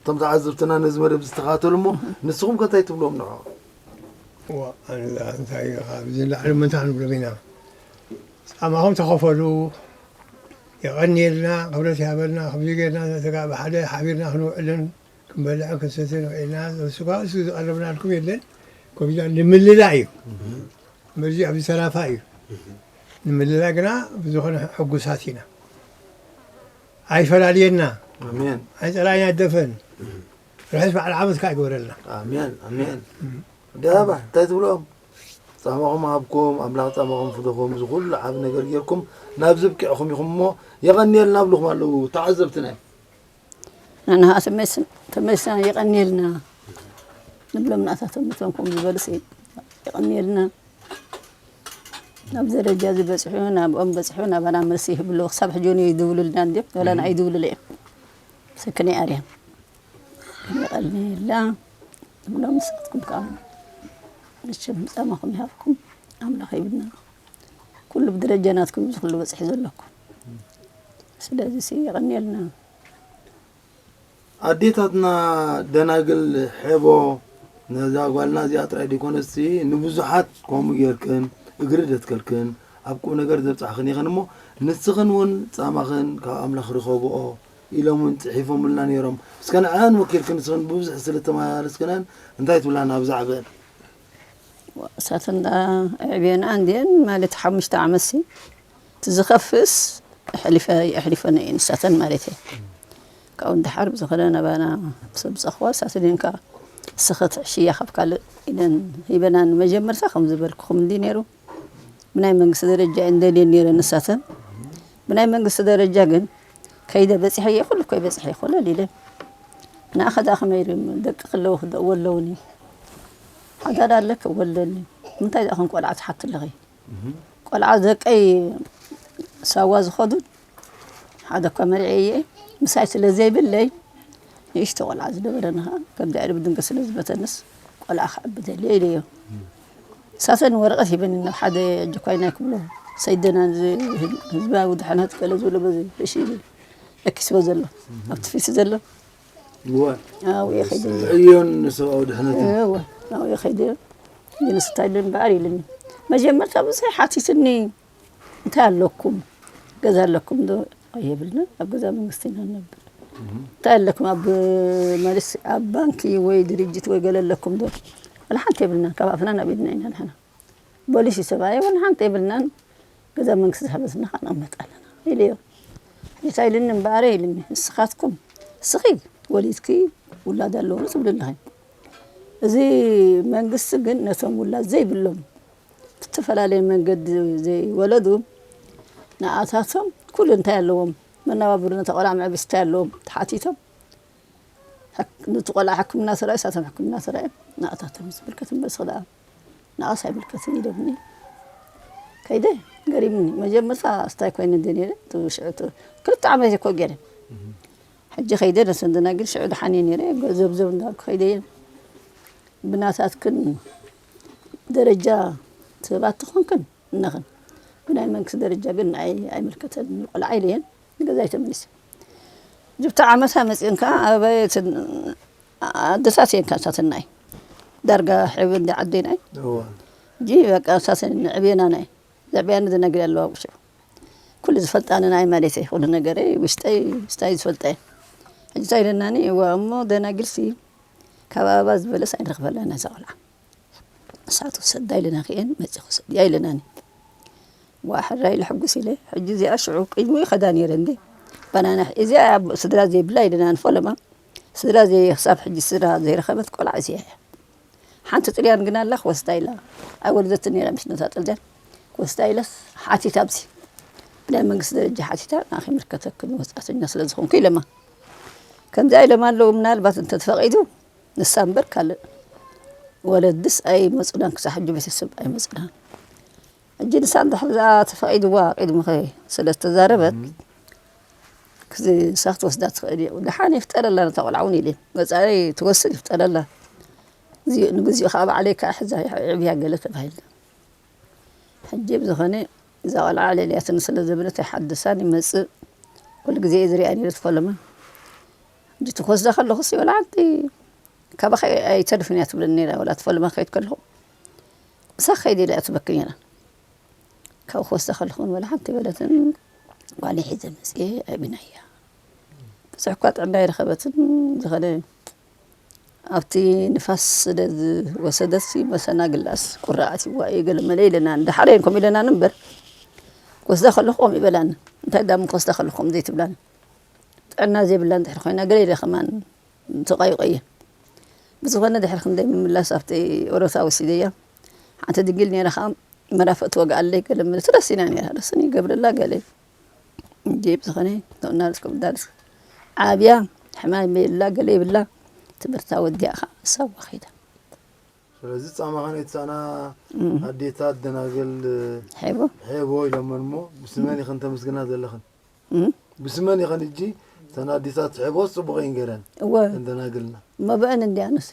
እቶም ተዓዘብትና ነዚ መደብ እዚ ዝተኸታተሉ እሞ ንስኹም ከ እንታይ ትብልዎም ንዕኦም? እዋእ ኣንላ እንታይ ኢኻ ኣብዚ ንላዕሊ ምን ክንብሎም ኢና ጻማኹም ተኸፈሉ የቐንየልና ክብረት ይሃበልና ከምዚ ጌርና ንተጋ ብሓደ ሓቢርና ክንውዕልን ክንበልዕን ክንሰትን ኽኢልና ንሱካ እሱ ዝቐረብናልኩም የለን ኮሚዳ ንምልላ እዩ መዚ ኣብዚ ተራፋ እዩ ንምልላ ግና ብዝኾነ ሕጉሳት ኢና ኣይፈላልየና ኣይፀላኢና ደፈን ርሑስ በዓል ዓመት ከዓ ይግበረልና ኣሜን ኣሜን ደባ እንታይ ትብሎም ፃማኹም ሃብኩም ኣምላኽ ፃማኹም ፍደኹም እዚ ኩሉ ዓብ ነገር ጌርኩም ናብዚ ብቂዕኹም ኢኹም እሞ የቐንየልና ኣብልኹም ኣለዉ ተዓዘብትና ንንሃ ተመልስና የቐንየልና ንብሎም ንኣታቶም ነቶም ከምኡ ዝበሉሲ የቐንየልና ኣብዚ ደረጃ እዚ በጺሑ ናብኦም በጺሑ ናባና መልሲ ይህብ ኣለዉ ክሳብ ሕጂ እውን ይድውሉልና እንድዮም ወላ ንዓይ ይድውሉለ እዮም ስክነይ ኣርያ ይቐልየላ እብሎም ንሳትኩም ከዓ መቸም ጻማኹም ይሃብኩም ኣምላኽ ይብልና ኩሉ ብደረጃ ናትኩም እዚ ኩሉ በጽሒ ዘለኩም ስለዚ ሲ ይቐንየልና ኣዴታትና ደናግል ሐቦ ነዛ ጓልና እዚኣ ጥራይ ደይኮነስቲ ንብዙሓት ከምኡ ጌርክን እግሪ ደትከልክን ኣብ ቁም ነገር ዘብጻሕክን ኢኽን እሞ ንስኽን እውን ጻማኽን ካብ ኣምላኽ ርኸብኦ ኢሎም እውን ጽሒፎምልና ነይሮም እስከ ንዐኣን ወኪልክን ንስኽን ብብዙሕ ስለ ተመላለስክነን እንታይ ትብላና ብዛዕበን እሳተን ደኣ ኣዕብየንኣ እንድየን ማለት ሓሙሽተ ዓመትሲ እቲ ዝኸፍእስ ኣሕሊፈንኦ እየን እሳተን ማለት እየ ካብኡ ንደሓር ብዝኸነ ናባና ሰብ ጸኽዋ እሳተን እየን ከዓ እስኺ ትዕሽያ ካብ ካልእ ኢለን ሂበና ንመጀመርታ ከም ዝበልኩኹም እንዲ ነይሩ ብናይ መንግስቲ ደረጃ እየን ደልየን ነይረን ንሳተን ብናይ መንግስቲ ደረጃ ግን ከይደ በፂሐ እየ ኩሉ እኮ ይበፅሐ ይኮለል ኢለን ንኣኸ ደኣ ከመይ ኢሉ ደቂ ክለዉ ክወለውኒ ሓዳር ኣለኪ ወለኒ ምንታይ ደኣ ከም ቆልዓ ትሓቲ ኣለኺ ቆልዓ ደቀይ ሳዋ ዝኸዱ ሓደ እኳ መሪዐ እየ ምሳይ ስለ ዘይብለይ ንእሽቶ ቆልዓ ዝነበረኒ ከዓ ከም ድዕሪ ብድንገት ስለ ዝበተንስ ቆልዓ ክዕቢ ደልየ ኢለዮ ሳሰን ወረቀት ሂበኒ ናብ ሓደ ጆካይ ናይ ክብሎ ሰይደና ህዝባዊ ድሕነት ገለ ዝብሎ በዚ እሺ ለኪስዎ ዘሎ ኣብቲ ፊት ዘሎ ኣብኡ ከይደ ዕዮን ንሰብኣዊ ድሕነት ኣብኡ ከይደ ንስታይ ልምበኣር ኢሉኒ መጀመርታ ብዙሕ ሓቲትኒ እንታይ ኣለኩም ገዛ ኣለኩም ዶ የብልናን ኣብ ገዛ መንግስቲ ኢና ንነብር እንታይ ኣለኩም ኣብ መልስ ኣብ ባንኪ ወይ ድርጅት ወይ ገለ ኣለኩም ዶ ወላ ሓንቲ የብልናን ካብ ኣፍና ናብ ኢድና ኢና ንሕና ቦሊስ እዩ ሰብኣየ ወላ ሓንቲ የብልናን ገዛ መንግስቲ ዝሃበትና ከዓ ንቕመጥ ኣለና ኢለዮ እንታይ ኢልኒ እምበኣረ ኢልኒ ንስኻትኩም እስኺ ወሊድኪ ውላድ ኣለዎ ትብሊ ኣለኺ እዚ መንግስቲ ግን ነቶም ውላድ ዘይብሎም ብዝተፈላለየ መንገዲ ዘይወለዱ ንኣታቶም ኩሉ እንታይ ኣለዎም መነባብሮ ነታ ቆልዓ መዕበሲ እንታይ ኣለዎም ተሓቲቶም ንቲ ቆልዓ ሕክምና ተራዩ ሳቶም ሕክምና ተራዮም ንኣታቶም ዝምልከት እምበር ስክዳ ንኣስ ኣይምልከትን ኢሎምኒ ከይደ ገሪምኒ መጀመርታ ስታይ ኮይነ እንደ ነረ ሽዑ ክልተ ዓመት እየ እኮ ገረ ሕጂ ከይደ ነሰንድና ግን ሽዑ ድሓን እየ ነረ ዘብዘብ እንዳልኩ ከይደ እየ ብናታትክን ደረጃ ሰባት ተኾንክን እነኽን ብናይ መንግስቲ ደረጃ ግን ንዓይ ኣይምልከተንን እዩ ቆልዓ ኢለ እየን ንገዛይ ተመሊሰ ጅብቲ ዓመታ መፅኦን ከዓ ኣበየ ኣደታት እየን ካብ ሳትናይ ዳርጋ ሕብሪ እንዲ ዓደናይ እጂ በቃ ሳትን ንዕብየና ናይ ዘዕብያኒ ዝነግር ኣለዋ ውሽ ኩሉ ዝፈልጣኒ ናይ ማለተይ ኩሉ ነገረይ ውሽጠይ ስታይ ዝፈልጠ ሕጂ እንታይ ኢለናኒ እዋ እሞ ደናግልሲ ካብ ኣበባ ዝበለስ ኣይንረኽበላን ነዛ ቆልዓ ንሳቱ ሰዳ ኢለና ክኤን መፂ ክሰድያ ኢለናኒ ዋ ሕራይ ልሕጉስ ኢለ ሕጂ እዚኣ ሽዑ ቅድሚ ይኸዳ ነይረ እንዴ ባናና እዚኣ ስድራ ዘይብላ ኢለናን ፈለማ ስድራ ዘይ ክሳብ ሕጂ ስድራ ዘይረኸበት ቆልዓ እዚኣ እያ ሓንቲ ጥልያን ግን ኣላ ክወስዳ ኢላ ኣይወለደት ነይራ ምስ ነታ ጥልያን ክወስዳ ኢለስ ሓቲታ ብዚ ብናይ መንግስቲ ደረጃ ሓቲታ ንኣኺ ምልከተክን ወፃእተኛ ስለ ዝኾንኩ ኢለማ ከምዚኣ ኢሎም ኣለዉ ምናልባት እንተተፈቒዱ ንሳ እምበር ካልእ ወለድስ ኣይመጹናን ክሳብ ሕጂ ቤተሰብ ኣይመጹናን ሕጂ ንሳ እንድሕር ዝኣ ተፈቒድዋ ቂድሚኸ ስለ ዝተዛረበት ክዚ ንሳ ክትወስዳ ትኽእል እዩ ደሓን ይፍጠረላ ነታ ቆልዓ እውን ኢለ መጻኢ ትወስድ ይፍጠረላ ንግዚኡ ከዓ ባዕለይ ከዓ ሕዛ ዕብያ ገለ ተባሂልና ሕጂ ብዝኸነ እዛ ቆልዓ ለልያትኒ ስለ ዝብለት ኣይሓድሳን ይመጽእ ኩሉ ግዜ እየ ዝሪኣ ነይረ ትፈለማ ሕጂ ክወስዳ ከለኹስ ይበልዓኒ ካባኺ ኣይተርፍን እያ ትብለኒ ነይራ ወላ ትፈለማ ክኸይድ ከለኹ ምሳኺ ከይደ ኢላ እያ ትበኪ ነይራ ካብ ክወስዳ ከለኹ ንበልዓንቲ በለትን ጓል ሒዘ መጽኤ ኣይብናያ ብዙሕ እኳ ጥዕና ኣይረኸበትን ዝኾነ ኣብቲ ንፋስ ስለ ዝወሰደትሲ መሰናግላስ ቁራዓት ይዋ እየ ገለ መለ ኢለናኒ ደሓር እየን ከምኡ ኢለናኒ እምበር ክወስዳ ከለኹ ከምኡ ይበላኒ እንታይ ዳሞ ክወስዳ ከለኹ ከምኡ ዘይትብላኒ ጥዕና ዘይብላ እንድሕር ኮይና ገለ ኢለ ከማን ተቋይቆ እየ ብዝኾነ ድሕሪ ክንደይ ምምላስ ኣብቲ ኦሮታ ወሲደያ ሓንቲ ድንግል ነይራ ከዓ መራፈእ ትወግኣለይ ገለ መለ ትረሲና ነይራ ረስኒ ይገብረላ ገለ እንድየ ብዝኾነ እናበልኩም ዳርዝ ዓብያ ሕማም የብላ ገለ የብላ ትምህርታ ወዲኣ ከዓ ሰዋ ከይዳ ስለዚ ፃማኻ ናይ ትሳእና ኣዴታት ደናግል ሄቦ ሄቦ ኢሎመን እሞ ብስመን ይኸን ተመስግና ዘለኽን ብስመን ይኸን እጂ እተን ኣዴታት ሄቦ ፅቡቕ እየን ገይረን እወ ደናግልና እሞ ብአን እንዲ ኣነስ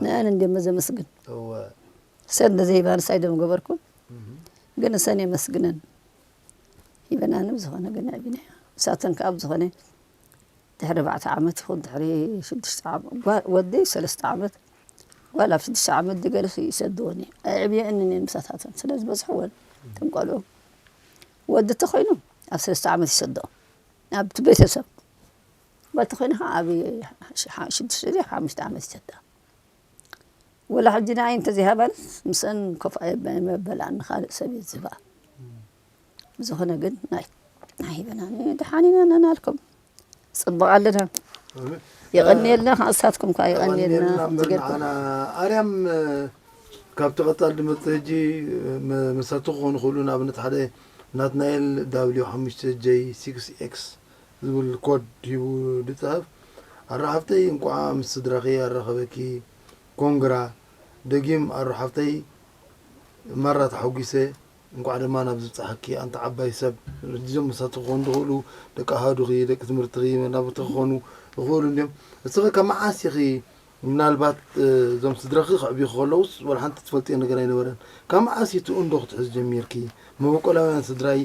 ንአን እንዲ መዘመስግን እወ ሰብ ንዘይባልሳይ ደም ገበርኩም ግን እሰን የመስግነን ሂበናኒ ብዝኮነ ግን ኣቢኒያ ንሳተን ከኣ ብዝኮነ ድሕሪ ኣርባዕተ ዓመት ይኩን ድሕሪ ሽዱሽተ ዓመት ጓል ወዲ ሰለስተ ዓመት ጓል ኣብ ሽዱሽተ ዓመት ድገለሲ ይሰድወን እዩ ኣዕብየንን እየን ምሳታተን ስለ ዝበዝሕወን እቶም ቆልዑ ወዲ ተኮይኑ ኣብ ሰለስተ ዓመት ይሰድኦ ኣብቲ ቤተሰብ ጓል ተኮይና ከዓ ኣብ ሽዱሽተ ድያ ሓሙሽተ ዓመት ይሰድኣ ወላ ሕጂ ንዓይ እንተዘይሃባንስ ምስኣን ኮፍ ኣይበላን ንኻልእ ሰብ እየ ዝህባ ብዝኾነ ግን ናይ ሂበና ደሓን ኢና ናናልኩም ፅቡቕ ኣለና የቐንየልና ከዓ እሳትኩም ከዓ የቐንየልና ዝገድኩም ኣርያም ካብቲ ቀፃሊ ድመፅእ ሕጂ መሳቱ ክኾኑ ክእሉ ንኣብነት ሓደ ናትናኤል ዳብሊው ሓሙሽተ ጀይ ሲክስ ኤክስ ዝብል ኮድ ሂቡ ድጽሕፍ ኣረ ሓፍተይ እንቋዓ ምስ ስድራኪ ኣራከበኪ ኮንግራ ደጊም ኣሩ ሓፍተይ ማራ ተሓጊሰ እንቋዕ ድማ ናብዚ ብጻሓኪ ኣንቲ ዓባይ ሰብ። እዞም ምሳኪ ክኮኑ ዝክእሉ ደቂ ኣሃዱኪ ደቂ ትምህርትኪ መናብርትኪ ክኮኑ ይክእሉ እንድዮም እስኪ ካብ መዓስ ኢኪ ምናልባት እዞም ስድራኪ ከዕብዩኪ ከለውስ ወላ ሓንቲ ትፈልጥዮ ነገር ኣይነበረን ካብ መዓስ ኢዩ ትእንዶ ክትሕዚ ጀሚርኪ መበቆላውያን ስድራይ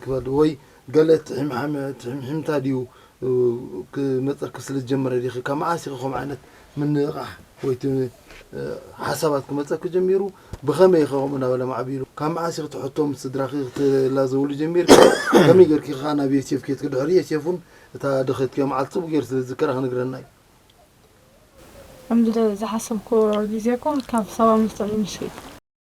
ክበድ ወይ ገለ ትሒምሓመ ትሒምሒምታ ድዩ ክመጸኪ ስለ ዝጀመረ ዲኺ ካብ መዓስ ኢኺ ከምኡ ዓይነት ምንቕቓሕ ወይ እቲ ሓሳባት ክመጸኪ ጀሚሩ ብኸመይ ኢኺ ከምኡ እናበለ ማዕቢሉ ካብ መዓስ ኢኺ ትሕቶ ምስ ስድራኺ ክትላዘብሉ ጀሚርኪ ከመይ ጌርኪ ከኣ ናብ ዮሴፍ ኬትኪ ድሕሪ ዮሴፍ እውን እታ ደኸትኪዮ መዓልቲ ጽቡቕ ጌሩ ስለ ዝዝከራ ክነግረና እዩ ከምዚ ዝሓሰብክዎ ግዜ እኮ ካብ ሰባ ምስ ትዕሊ ምስ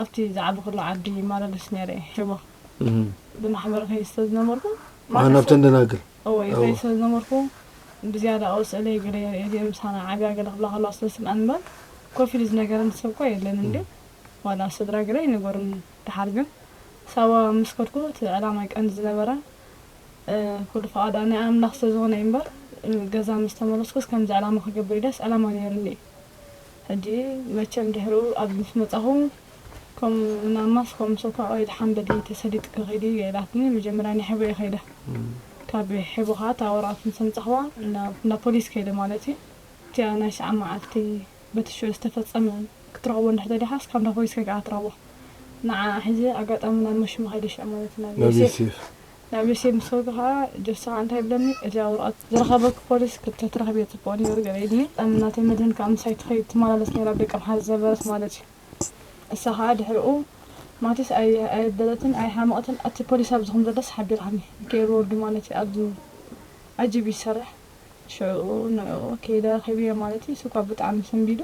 ኣብቲ ዝዓበኹሉ ዓዲ ይመላለስ ነይረ እየ ሽቦ ብማሕበር ይኸይድ ስለ ዝነበርኩ ማሕበር ናብተን ደናግል እወ ይኸይድ ስለ ዝነበርኩ ብዝያዳ እወ ስእለይ ገለ የርእየ እዚኤን ምሳና ዓብያ ገለ ክብላ ከለዋ ስለ ዝስምዐን እምበር ኮፍ ኢሉ ዝነገረኒ ሰብ እኳ የለን እንድዩ ዋላ ስድራ ገለ ይንገሩኒ ደሓር ግን ሳዋ ምስ ከድኩ እቲ ዕላማይ ቀንዲ ዝነበረ ኩሉ ፍቓዳ ናይ ኣምላኽ ስለ ዝኾነ እዩ እምበር ገዛ ምስ ተመለስኩስ ከምዚ ዕላማ ክገብር ኢለስ ዕላማ ነይሩኒ እዩ። ሕጂ መቸም ድሕሩ ኣብዚ ምስ መጻኹ ከም ናማ ስኮም ሶፋ ኦይል ሓምበዲ ተሰሊጥኪ ኪዲ ኢላትኒ መጀመርያ ናይ ሐቦ እየ ከይደ ካብ ሐቦ ከኣ እታ ወረቀት ምስ ኣምጻኽዋ እንዳ ፖሊስ ከይደ ማለት እዩ እቲኣ ናይ ሰዓብ መዓልቲ በቲ ሽዑ ዝተፈጸመ ክትረኽቦ እንድሕር ተደልኻስ ካብ እንዳ ፖሊስ ከይካ እያ ትረኽቦ ንዓኣ ሒዘ ኣጋጣሚ ናብ መሽመ ከይደ ሽዑ ማለት ናብ ዮሴፍ ናብ ርእሴ ምስ ከድኩ ከኣ ጀሶኻ እንታይ ይብለኒ እዚኣ ወረቐት ዝረኸበኪ ፖሊስ ክተትረኽብዮ ጽቡቕ ኔሩ ገለ ኢልኒ እም ናተይ መድህን ከኣ ምሳይ ትኸይድ ትመላለስ ኔራ ብ ደቂ ኣምሓራ ዝነበረት ማለት ዩ እሳ ከኣ ድሕርኡ ማቲስ ኣይ ኣየበለትን ኣይ ሓመቐትን ኣቲ ፖሊስ ኣብዚ ከም ዘለስ ሓቢራኒ ገይሩ ወርዱ ማለት ዩ ኣብዚ ኣጂብ ዩ ዝሰርሕ ሽዑኡ ንዕኡ ከይደ ረኺብዮ ማለት ዩ እሱኳ ብጣዕሚ ሰንቢዱ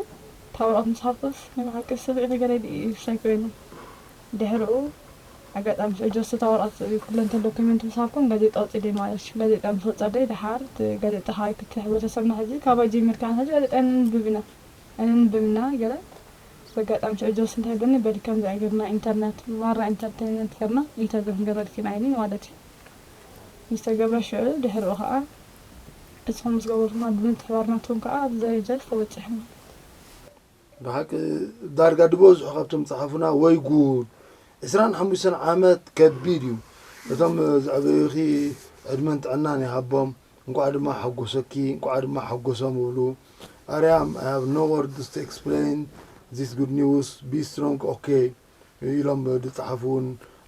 እታ ወረቐት ምስ ሃብኩስ ናይ ብሓቂ ስቕ ኢኺ ገለ ኢሉ ኢዩ ዝብለኒ ኮይኑ ድሕርኡ ኣጋጣሚ ስዑድ ዘሰታ ወረቀት ኩለንተን ዶኩመንት ምስ ሃብኩም ጋዜጣ ወጺደይ ማለሽ ጋዜጣ ምስ ወጻደይ ድሓር እቲ ጋዜጣ ካባይ ክቲ ሕብረተሰብና ሕጂ ካባይ ጀሚርካ ንሕጂ ጋዜጣ ኣይነንብብ ኢና ኣይነንብብ እና ገለ በጋጣሚ ስዑድ ዘስ እንታይ በለኒ በሊ ከምዚ ኣይ ገርና ኢንተርነት ማራ ኢንተርተይንመንት ገርና ኢንተርቪው ክንገብረልኪ ኢና ኢልኒ ማለት እዩ ምስ ተገብረ ሽዑ ድሕርኡ ከኣ ንስኩም ምስ ገበርኩማ ብምትሕባር ናትኩም ከኣ ኣብዚ ደረጃ እዚ ተበጺሑ ማለት እዩ። ብሓቂ ዳርጋ ድበዝሑ ካብቶም ዝጸሓፉና ወይ ጉድ ዕስራን ሓሙሽተን ዓመት ከቢድ እዩ እቶም ዘዕበዩኺ ዕድመን ጥዕናን ይሃቦም እንቋዕ ድማ ሓጎሰኪ እንቋዕ ድማ ሓጎሶም እብሉ ኣርያም I have no words to explain this good news be strong okay ኢሎም ዝጸሓፉ እውን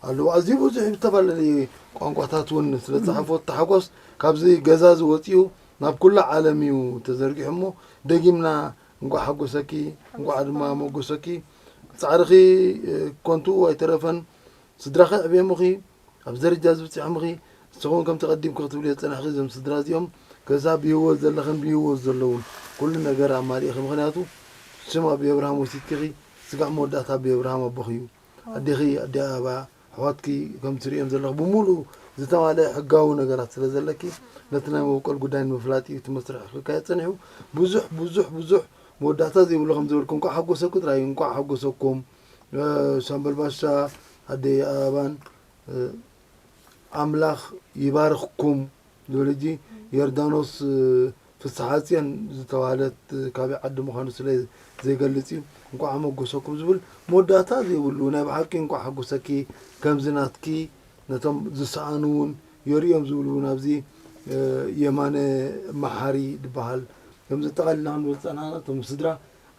ኣለዉ ኣዝዩ ብዙሕ ብዝተፈላለየ ቋንቋታት እውን ስለ ዝጸሓፉ እቲ ሓጎስ ካብዚ ገዛ እዚ ወጺኡ ናብ ኩላ ዓለም እዩ ተዘርጊሑ እሞ ደጊምና እንኳዕ ሓጎሰኪ እንኳዕ ድማ ሞጎሰኪ ፃዕርኺ ኮንቱኡ ኣይተረፈን ስድራኺ ኣዕብየሙኺ ኣብዚ ደረጃ እዚ ብፅሖምኺ ንስኹም ከምቲ ቀዲምኪ ክትብልዮ ዝፀናሕኺ እዞም ስድራ እዚኦም ከሳብ ብሂወት ዘለኽን ብሂወት ዘለውን ኩሉ ነገር ኣማሊእኺ ምክንያቱ ስም ኣቢ ኣብርሃም ወሲድኪኺ ስጋዕ መወዳእታ ኣቢ ኣብርሃም ኣቦኺ እዩ ኣዴኺ ኣዲ ኣበባ ኣሕዋትኪ ከም ትርእየን ዘለኺ ብምሉኡ ዝተማልኤ ሕጋዊ ነገራት ስለ ዘለኪ ነቲ ናይ መበቆል ጉዳይ ንምፍላጥ እዩ እቲ መስርሕ ክካየድ ጸኒሑ። ብዙሕ ብዙሕ ብዙሕ መወዳእታ ዘይብሉ ከም ዝበልኩ እንቋዕ ሓጎሰኪ ጥራይ እዩ። እንቋዕ ሓጎሰኩም ሻምበል ባሻ ኣደይ ኣበባን ኣምላኽ ይባርኽኩም ዝብል ሕጂ ዮርዳኖስ ፍስሓጽዮን ዝተባህለት ካበይ ዓዲ ምዃኑ ስለ ዘይገልጽ እዩ እንቋዕ ኣመጎሰኩም ዝብል መወዳእታ ዘይብሉ ናይ ብሓቂ እንቋዕ ሓጎሰኪ ከምዚ ናትኪ ነቶም ዝሰኣኑ ውን የርእዮም ዝብል ውን ኣብዚ የማነ መሓሪ ድበሃል ከም ዘጠቓልል ኢና ክንብል ዝጸናሕና እቶም ስድራ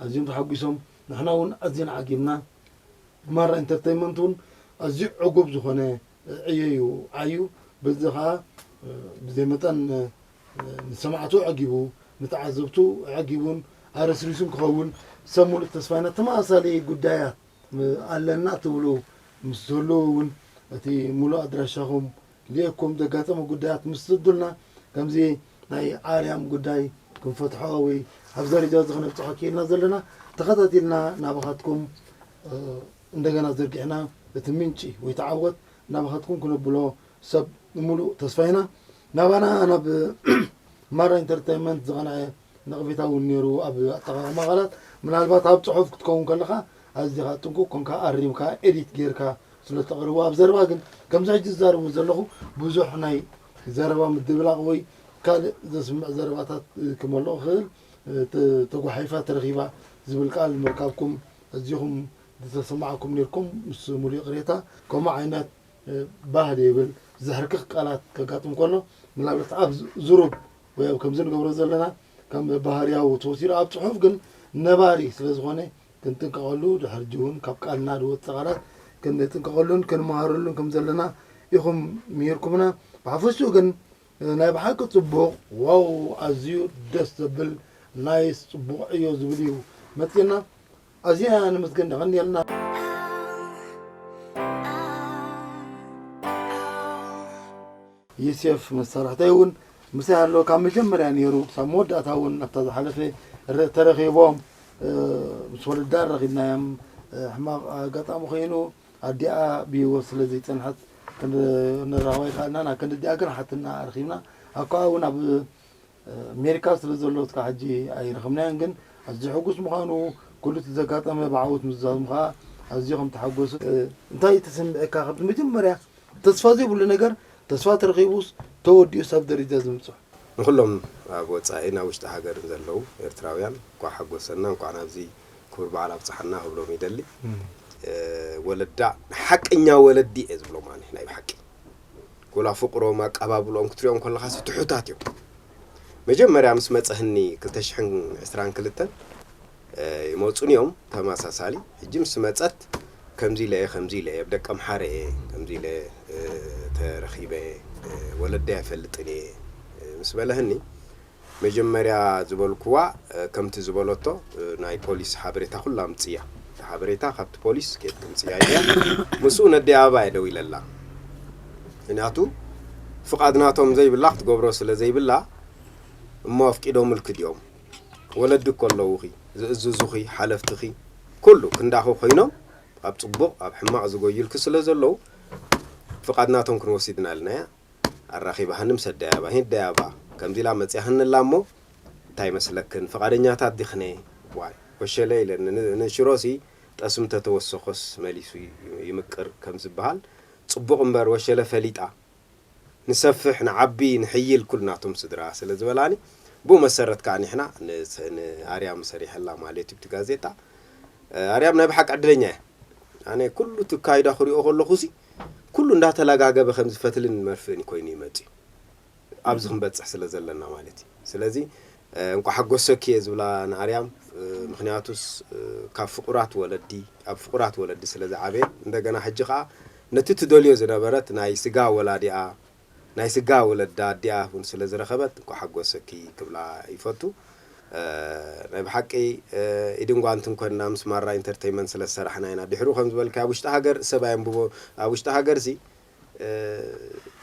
ኣዝዮም ተሓጒሶም ንሕና ውን ኣዝና ዓጊብና ማራ ኢንተርተይመንት ውን ኣዝዩ ዕጉብ ዝኾነ ዕዮ እዩ ዓዩ በዚ ከኣ ብዘይ መጠን ንሰማዕቱ ኣዐጊቡ፣ ንተዓዘብቱ ኣዐጊቡን ኣረስሪሱን ክኸውን ሰብ ሙሉእ ተስፋና ተመሳሳሊ ጉዳያት ኣለና ትብሉ ምስ ትህልዉ እውን እቲ ሙሉእ ኣድራሻኹም ሊእኩም ዘጋጠመ ጉዳያት ምስ ትስዱልና ከምዚ ናይ ኣርያም ጉዳይ ክንፈትሖ ወይ ኣብ ደረጃ እዚ ክነብፅሖ ክኢልና ዘለና ተኸታቲልና ናባኻትኩም እንደገና ዘርጊሕና እቲ ምንጪ ወይ ተዓወት ናባኻትኩም ክነብሎ ሰብ ብምሉእ ተስፋ ኢና ናባና ናብ ማራ ኢንተርተይመንት ዝቐንዐ ነቕፌታ እውን ነይሩ ኣብ ኣጠቓቕማ ቃላት ምናልባት ኣብ ፅሑፍ ክትከውን ከለኻ ኣዚኻ ጥንቁቕ ኮንካ ኣሪምካ ኤዲት ጌርካ ስለ እተቕርቦ ኣብ ዘረባ ግን ከምዚ ሕጂ ዝዛረቦ ዘለኹ ብዙሕ ናይ ዘረባ ምድብላቕ ወይ ካልእ ዘስምዕ ዘረባታት ክመልኦ ክእል ተጓሒፋ ተረኺባ ዝብል ቃል ምርካብኩም ኣዚኹም ዝተሰማዓኩም ኔርኩም ምስ ሙሉእ ይቕሬታ ከምኡ ዓይነት ባህ ዘይብል ዘሕርክኽ ቃላት ከጋጥም ከሎ ምናልባት ኣብ ዝሩብ ወይ ኣብ ከምዚ ንገብሮ ዘለና ከም ባህርያዊ ተወሲዱ ኣብ ፅሑፍ ግን ነባሪ ስለ ዝኾነ ክንጥንቀቐሉ ድሕርጂ እውን ካብ ቃልና ዝወፅእ ቃላት ክንጥንቀቐሉን ክንመሃረሉን ከም ዘለና ኢኹም ምሂርኩምና ብሓፈሽኡ ግን ናይ ብሓቂ ፅቡቕ ዋው ኣዝዩ ደስ ዘብል ናይስ ፅቡቕ ዕዮ ዝብል እዩ መፂና ኣዚና ነመስግን የቀንየልና። ዩሴፍ መሳርሕተይ እውን ምሳይ ኣሎ ካብ መጀመርያ ነይሩ ክሳብ መወዳእታ እውን ኣብታ ዝሓለፈ ረ- ተረኺቦም እ፣ ምስ ወለዳ ረኺብናዮም እ፣ ሕማቕ ኣጋጣሚ ኮይኑ ኣዲኣ ብሂወት ስለ ዘይፀንሐት ክንራኸባ ይከኣልናን ኣብ ክንዲ ኣዲኣ ግን ሓትና ረኺብና ኣብ ከኣ እውን ኣብ ሜሪካ ስለ ዘሎ እስካዕ ሕጂ ኣይረኸብናዮን ግን ኣዝዩ ሕጉስ ምዃኑ ኩሉ እቲ ዘጋጠመ ብዓወት ምዝዛሙ ከኣ ኣዝዩ ከም ተሓጎሰ እንታይ ተሰሚዕካ ካብቲ መጀመርያ ተስፋ ዘይብሉ ነገር ተስፋ ተረኺቡስ ተወዲኡስ ኣብ ደረጃ እዚ ምብጽሑ። ንኹሎም ኣብ ወጻኢን ኣብ ውሽጢ ሃገርን ዘለዉ ኤርትራውያን እንቋዕ ሓጎሰና እንቋዕ ናብዚ ክቡር በዓል ኣብጽሓና ክብሎም ይደሊ። ወለዳ ንሓቀኛ ወለዲ እየ ዝብሎም ኣነ ናይ ብሓቂ። ጎላ ፍቅሮም ኣቃባብልኦም ክትሪኦም ኮለኻስ ትሑታት እዮም መጀመርያ ምስ መጸህኒ ክልተ ሽሕን ዕስራን ክልተን ይመጹኒ እዮም ተመሳሳሊ ሕጂ ምስ መጸት ከምዚ ኢለ እየ ከምዚ ኢለ እየ ብደቂ ኣምሓረ እየ ከምዚ ኢለ ተረኺበ ወለደይ ኣይፈልጥን እየ ምስ በለህኒ መጀመርያ ዝበልኩዋ ከምቲ ዝበለቶ ናይ ፖሊስ ሓበሬታ ኩሉ ኣምጽያ እቲ ሓበሬታ ካብቲ ፖሊስ ኬድ ተምጽያ ኢልያ ምስኡ ነዲ ኣበባ እየ ደዊለላ ምክንያቱ ፍቃድ ናቶም ዘይብላ ክትገብሮ ስለ ዘይብላ እሞ ኣፍቂዶምልኪ ድዮም ወለዲ እኮ ኣለውኺ ዝእዝዙኺ ሓለፍትኺ ኩሉ ክንዳኺ ኮይኖም ኣብ ጽቡቅ ኣብ ሕማቅ ዝጎዩልኪ ስለ ዘለው ፍቃድ ናቶም ክንወሲድ እና ኢልናያ ኣራኺባሃኒ ምስ ኣደያባ ሂደያባ ከምዚ ኢላ መጺያህኒ ኣላ እሞ እንታይ ይመስለክን ፍቓደኛታት ዲኽኔ ዋይ ኮሸለ ኢለኒ ንሽሮሲ ጠስሚ ተተወሰኾስ መሊሱ ይምቅር ከም ዝብሃል ጽቡቕ እምበር ወሸለ ፈሊጣ ንሰፍሕ ንዓቢ ንሕይል ኩልናቶም ስድራ ስለ ዝበላኒ ብኡ መሰረት ከኣ ኒሕና ንኣርያም ሰሪሐላ ማለትዩ እቲ ጋዜጣ ኣርያም ናይ ብሓቂ ዕድለኛ እያ። ኣነ ኩሉ እቲ ኣካይዳ ክሪኦ ከለኹሲ ኩሉ እንዳተላጋገበ ከምዚ ፈትልን መርፍእን እዩ ኮይኑ እዩ መጺኡ ኣብዚ ክንበጽሕ ስለ ዘለና ማለት እዩ ስለዚ እንቋዕ ሓጎሰኪ እየ ዝብላ ንኣርያም ምክንያቱስ ካብ ፍቁራት ወለዲ ኣብ ፍቁራት ወለዲ ስለ ዝዓበየት እንደገና ሕጂ ከኣ ነቲ ትደልዮ ዝነበረት ናይ ስጋ ወላዲኣ ናይ ስጋ ወለዳ ኣዲኣ ውን ስለ ዝረኸበት እንቋዕ ሓጎሰኪ ክብላ ይፈቱ። ናይ ብሓቂ ኢድን ጓንትን ኮንና ምስ ማራ ኢንተርተይመንት ስለ ዝሰራሕና ኢና ድሕሩ ከም ዝበልካዮ ኣብ ውሽጢ ሃገር ሰብ ኣየንብቦ ኣብ ውሽጢ ሃገር ሲ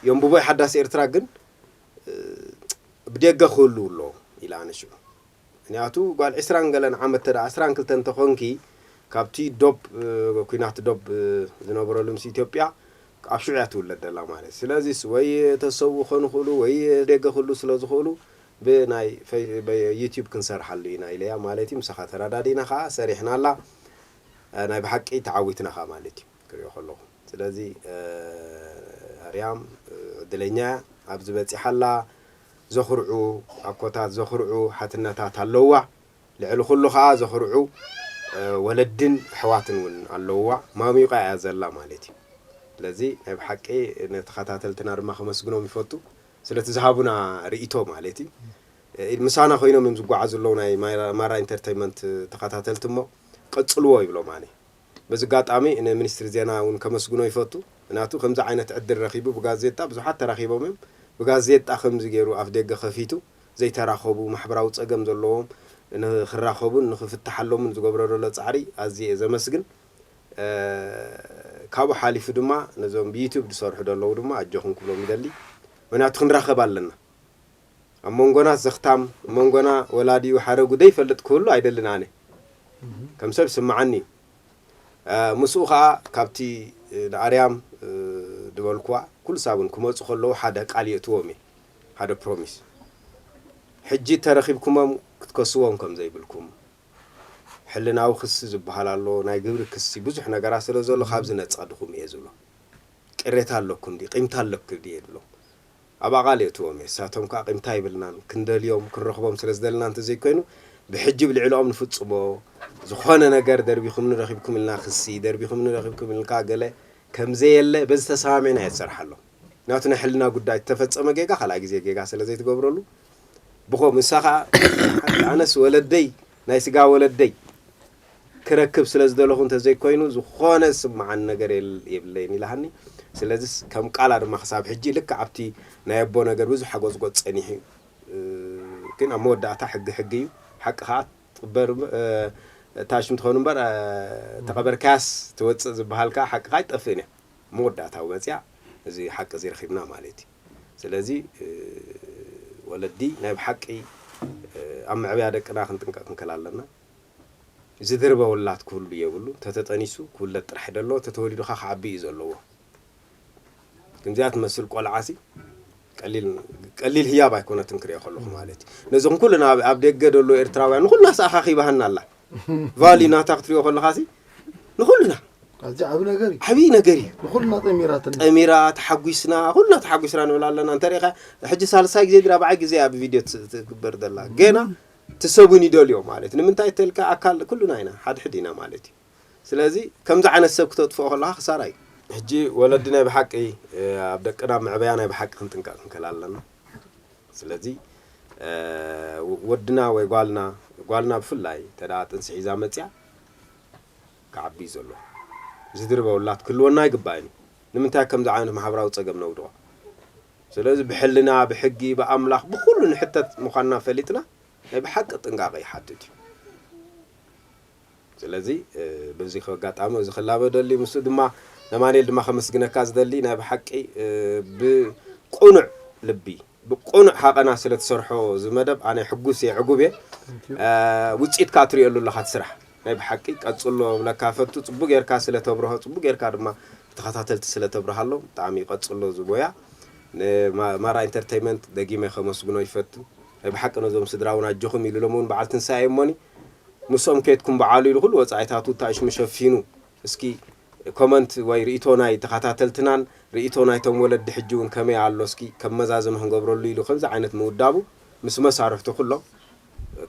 የንብቦ ሓዳስ ኤርትራ ግን ብዴገ ክህልው ኣለዎ ኢለ ኣነ ሽዑ ምክንያቱ ጓል ዕስራን ገለን ዓመት እንተ ዕስራን ክልተን እንተ ኮንኪ ካብቲ ዶብ ኩናት ዶብ ዝነበረሉ ምስ ኢትዮጵያ ኣብ ሽዑ እያ ትውለድ ዘላ ማለት ስለዚ ወይ ተሰውኡ ክኮኑ ይክእሉ ወይ ደገ ክህልው ስለ ዝክእሉ ብ ናይ ዩቱብ ክንሰርሓሉ ኢና ኢለያ ማለት እዩ ምሳካ ተረዳዲና ከኣ ሰሪሕናላ ናይ ብሓቂ ተዓዊትና ከኣ ማለት እዩ። ክሪኦ ከለኩ ስለዚ ኣርያም ዕድለኛ እያ ኣብዚ በጺሓ ኣላ ዘኩርዑ ኣኮታት ዘኩርዑ ሓትነታት ኣለዉዋ ልዕሊ ኩሉ ከኣ ዘኩርዑ ወለድን ኣሕዋትን እውን ኣለዉዋ ማሚቋ እያ ዘላ ማለት እዩ ስለዚ ናይ ብሓቂ ንተኸታተልትና ድማ ከመስግኖም ይፈቱ ስለቲ ዝሃቡና ርእይቶ ማለት እዩ ምሳና ኮይኖም እዮም ዝጓዓዙ ኣለዉ ናይ ማራ ኢንተርተይመንት ተኸታተልቲ እሞ ቀጽልዎ ይብሎም ኣነ በዚ ኣጋጣሚ ንሚኒስትሪ ዜና እውን ከመስግኖ ይፈቱ። ምክንያቱ ከምዚ ዓይነት ዕድል ረኺቡ ብጋዜጣ ብዙሓት ተራኺቦም እዮም። ብጋዜጣ ከምዚ ገይሩ ኣፍደገ ከፊቱ ዘይተራኸቡ ማሕበራዊ ፀገም ዘለዎም ንክራኸቡን ንክፍተሓሎምን ዝገብሮ ዘሎ ፃዕሪ ኣዝየ እየ ዘመስግን። ካብኡ ሓሊፉ ድማ ነዞም ብዩቱብ ዝሰርሑ ዘለዉ ድማ ኣጆኹም ክብሎም ይደሊ። ምክንያቱ ክንራኸብ ኣለና። ኣብ መንጎና ዘኽታም መንጎና ወላዲኡ ሓረጉ ደይፈልጥ ክህሉ ኣይደልን ኣነ ከም ሰብ ስምዓኒ እዩ ምስኡ ከኣ ካብቲ ንኣርያም ድበልኩዋ ኩሉ ሳብን ክመጹ ከለዉ ሓደ ቃል የእትዎም እየ ሓደ ፕሮሚስ ሕጂ ተረኺብኩሞም ክትከስዎም ከም ዘይብልኩም ሕልናዊ ክሲ ዝብሃል ኣሎ ናይ ግብሪ ክሲ ብዙሕ ነገራት ስለ ዘሎ ካብዚ ነጸድኹም እየ ዝብሎም ቅሬታ ኣለኩም ድዩ ቂምታ ኣለኩ ድየ ድብሎም ኣብ ኣቓል የእትዎም እየ። ንሳቶም ከኣ ቂምታ የብልናን፣ ክንደልዮም ክንረኽቦም ስለ ዝደለና እንተ ዘይኮይኑ፣ ብሕጂ ብ ልዕለኦም ንፍጽሞ ዝኾነ ነገር ደርቢኹምኒ ረኺብኩም ኢልና ክሲ፣ ደርቢኹምኒ ረኺብኩም ኢልካ ገለ፣ ከም ዘየለ በዚ ተሰማሚዕና እየ ዝሰርሓሎም። ምክንያቱ ናይ ሕልና ጉዳይ እቲ ተፈጸመ ጌጋ ካልኣይ ግዜ ጌጋ ስለ ዘይትገብረሉ ብኸምኡ ንሳ ከኣ ሓንቲ ኣነስ ወለደይ ናይ ስጋ ወለደይ ክረክብ ስለ ዝደለኹ እንተ ዘይኮይኑ ዝኾነ ዝስምዓኒ ነገር የብለይን ኢላሃኒ። ስለዚ ከም ቃላ ድማ ክሳብ ሕጂ ልክዕ ኣብቲ ናይ ኣቦ ነገር ብዙሕ ሓጎጽጎጽ ጸኒሑ እዩ። ግን ኣብ መወዳእታ ሕጊ ሕጊ እዩ። ሓቂ ከኣ ትቕበር ታሽም ትኸውን እምበር ተቐበርካያስ ትወጽእ ዝበሃል ከኣ ሓቂ ከኣ ኣይትጠፍእን እያ። ኣብ መወዳእታ ውን መጺኣ እዚ ሓቂ እዚ ረኺብና ማለት እዩ። ስለዚ ወለዲ ናይ ብሓቂ ኣብ መዕበያ ደቅና ክንጥንቀቕ ክንክል ኣለና። እዚ ድርበ ውላድ ክህሉ የብሉን እንተተጠኒሱ ክውለድ ጥራሕ ደለዎ እንተተወሊዱ ከኣ ክዓቢ እዩ ዘለዎ ክንዚኣ ትመስል ቆልዓ ሲ ቀሊል ቀሊል ህያብ ኣይኮነትን ክሪኦ ከለኹ ማለት እዩ ነዚ ኩልና ኣብ ደገ ደሎ ኤርትራውያን ንኩልና ሰኣኻኺባሃና ኣላ ቫሊ ናታ ክትሪኦ ከለኻ ሲ ንኩልና ኣዚ ዓብ ነገር እዩ ዓብይ ነገር እዩ ንኩልና ጠሚራትና ጠሚራ ተሓጒስና ኩልና ተሓጒስና ንብል ኣለና እንተሪኢኻ ሕጂ ሳልሳይ ግዜ ድራ በዓይ ግዜ ኣብ ቪድዮ ትግበር ዘላ ገና እቲ ሰብ ውን ይደልዮ ማለት እዩ ንምንታይ ተልካ ኣካል ኩሉና ኢና ሓድሕድ ኢና ማለት እዩ ስለዚ ከምዚ ዓይነት ሰብ ክተጥፍኦ ከለካ ክሳራ እዩ። ሕጂ ወለዲ ናይ ብሓቂ ኣብ ደቅና መዕበያ ናይ ብሓቂ ክንጥንቀቅ ክንክእል ኣለና ስለዚ ወድና ወይ ጓልና ጓልና ብፍላይ እንተ ጥንሲ ሒዛ መጽያ ክዓቢ እዩ ዘለዎ ዝድርበ ውላድ ክህልወና ኣይግባእን እዩ ንምንታይ ኣብ ከምዚ ዓይነት ማሕበራዊ ጸገም ነውድቆ። ስለዚ ብሕልና፣ ብሕጊ፣ ብኣምላኽ፣ ብኹሉ ንሕተት ምዃንና ፈሊጥና ናይ ብሓቂ ጥንቃቐ ይሓትት እዩ። ስለዚ በዚ ኣጋጣሚ እዚ ክላበ እደሊ፣ ምስኡ ድማ ነማንኤል ድማ ከመስግነካ ዝደሊ ናይ ብሓቂ ብቁኑዕ ልቢ ብቁኑዕ ሃቐና ስለ ትሰርሖ እዚ መደብ ኣነ ሕጉስ እየ ዕጉብ እየ ውጽኢትካ ትርእየሉ ኣለኻ እቲ ስራሕ ናይ ብሓቂ ቀጽሎ እብለካ ፈቱ ጽቡቅ ጌርካ ስለ ተብርሆ ጽቡቅ ጌርካ ድማ ንተከታተልቲ ስለ ተብርሃሎም ብጣዕሚ ቀጽሎ እዚ ሞያ ን ማራ ኢንተርተይመንት ደጊመ ከመስግኖ ይፈቱ ናይ ብሓቂ ነዞም ስድራ ውን ኣጆኹም ኢሉ ሎሚ ውን በዓል ትንሳኤ እሞኒ ምሶም ኬድኩም በዓሉ ኢሉ ኩሉ ወጻኢታቱ ታእሽሙ ሸፊኑ እስኪ ኮመንት ወይ ሪኢቶ ናይ ተከታተልትናን ሪኢቶ ናይቶም ወለዲ ሕጂ ውን ከመይ ኣሎ እስኪ ከም መዛዘሚ ክንገብረሉ ኢሉ ከምዚ ዓይነት ምውዳቡ ምስ መሳርሕቱ ኩሎም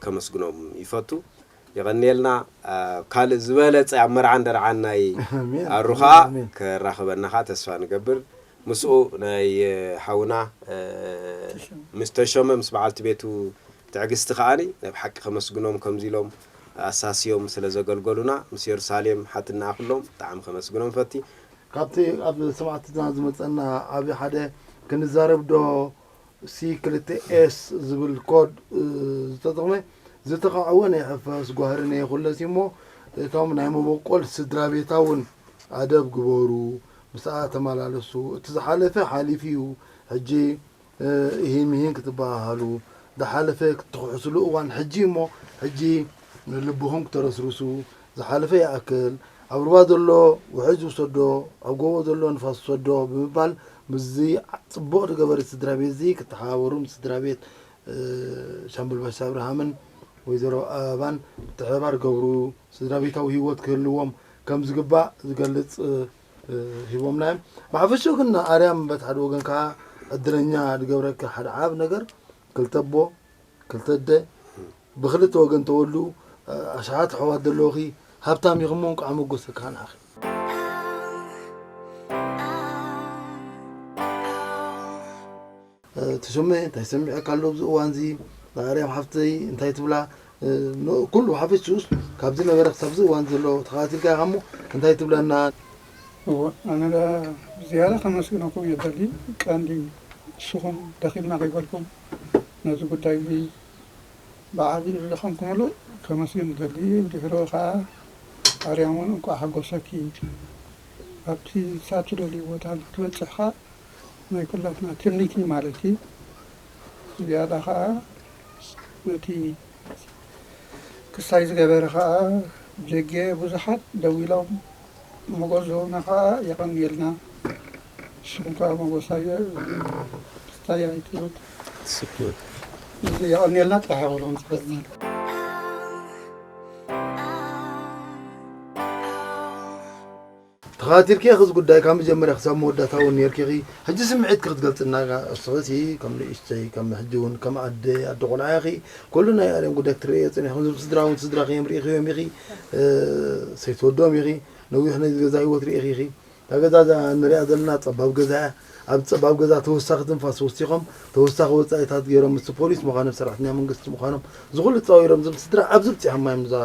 ከመስግኖም ይፈቱ። የቐንየልና ካልእ ዝበለጸ ኣብ መርዓን ደርዓን ናይ ኣሩ ከኣ ከራኽበና ከኣ ተስፋ ንገብር ምስኡ ናይ ሓውና ምስ ተሾመ ምስ በዓልቲ ቤቱ ትዕግስቲ ከኣ ናይ ብሓቂ ከመስግኖም ከምዚ ኢሎም ኣሳስዮም ስለ ዘገልገሉና ምስ የሩሳሌም ሓትነኣ ኩሎም ብጣዕሚ ከመስግኖም ፈቲ ካብቲ ኣብ ሰማዕትና ዝመጸና ዓቢ ሓደ ክንዛረብ ዶ ሲ ክልተ ኤስ ዝብል ኮድ ዝተጥቕመ ዝተኻዕወ ናይ ሕፈስ ጓህሪ ነይኹለስ እዩ እሞ እቶም ናይ መበቆል ስድራቤታ እውን ኣደብ ግበሩ፣ ምስኣ ተመላለሱ፣ እቲ ዝሓለፈ ሓሊፉ እዩ ሕጂ እሂን ምሂን ክትበሃሃሉ ዝሓለፈ ክትኽሕስሉ እዋን ሕጂ እዩ እሞ ሕጂ ልብኹም ክተረስርሱ ዝሓለፈ ይኣክል፣ ኣብ ሩባ ዘሎ ውሕጅ ዝውሰዶ፣ ኣብ ጎቦ ዘሎ ንፋስ ዝሰዶ ብምባል ምስዚ ጽቡቕ ዝገበረት ስድራቤትዚ ክተሓባበሩ ምስ ስድራቤት ሻምበል ባሻ ኣብርሃምን ወይዘሮ ኣበባን ምትሕብባር ዝገብሩ ስድራቤታዊ ህይወት ክህልዎም ከም ዝግባእ ዝገልጽ ሂቦምና እዮም። ብሓፈሽኡ ግን ኣርያም በቲ ሓደ ወገን ከኣ ዕድለኛ ዝገብረኪ ሓደ ዓቢ ነገር ክልተ ኣቦ ክልተ ኣደ ብክልተ ወገን ተወልዱ ኣሽሓት ኣሕዋት ዘለውኺ ሃብታም ኢኺ እሞ እንቋዕ መጎሰኪ ሃናኺ። ተሾመ እንታይ ሰሚዐካ ኣሎ ኣብዚ እዋንዚ ንኣርያም ሓፍተይ እንታይ ትብላ ኩሉ ሓፈሽኡስ ካብ ዝነበረ ክሳብ እዚ እዋን ዘሎ ተኸታቲልካ ኢኻ እሞ እንታይ ትብለና እወ ኣነ ዳ ዝያዳ ከመስግነኩም ይደሊ ቀንዲ ንስኹም ደኺምና ከይበልኩም ነዚ ጉዳይ እዚ ብዓቢ ዝደኸምኩምሉ ከመስግን እደሊ ድሕሩ ከኣ ኣርያም ውን እንቋዕ ሓጎሰኪ ኣብቲ ክሳብ ትደልዩ ቦታ ክትበጽሕ ከኣ ናይ ኩላትና ትምኒት እዩ ማለት እዩ ብዝያዳ ከኣ ነቲ ክሳይ ዝገበረ ከኣ ጀጌ ብዙሓት ደዊሎም ሞጎዝና ከኣ የቀንየልና ንስኩም ከኣ ሞጎስ ኣየ ስታይ ኣይትሙት እዚ የቀንየልና ጥራሕ በሉ ክንጽበ ተኸታቲልኪ ኢኺ እዚ ጉዳይ ካብ መጀመርያ ክሳብ መወዳእታ እውን ነርኪ ኢኺ ሕጂ ስምዒትኪ ክትገልፅና እስኺ ከም ንእሽተይ ከም ሕጂ እውን ከም ኣደ ኣደ ቆልዓ ኢኺ ኩሉ ናይ ኣለም ጉዳይ ክትርእዮ ፀኒሕኩም ዝም ስድራ እውን ስድራኺ እዮም ርኢኽዮም ኢኺ ሰይ ትወድኦም ኢኺ ነዊሕ ናይ ገዛ ሂወት ሪኢኺ ኢኺ እታ ገዛ እዛ ንሪኣ ዘለና ጸባብ ገዛ እያ ኣብዚ ጸባብ ገዛ ተወሳኺ ትንፋስ ወሲኾም ተወሳኺ ወጻኢታት ጌሮም ምስቲ ፖሊስ ምዃኖም ሰራሕተኛ መንግስቲ ምዃኖም እዚ ኩሉ ጻዊሮም እዞም ስድራ ኣብዚ ብጺሖማ እዮም እዛ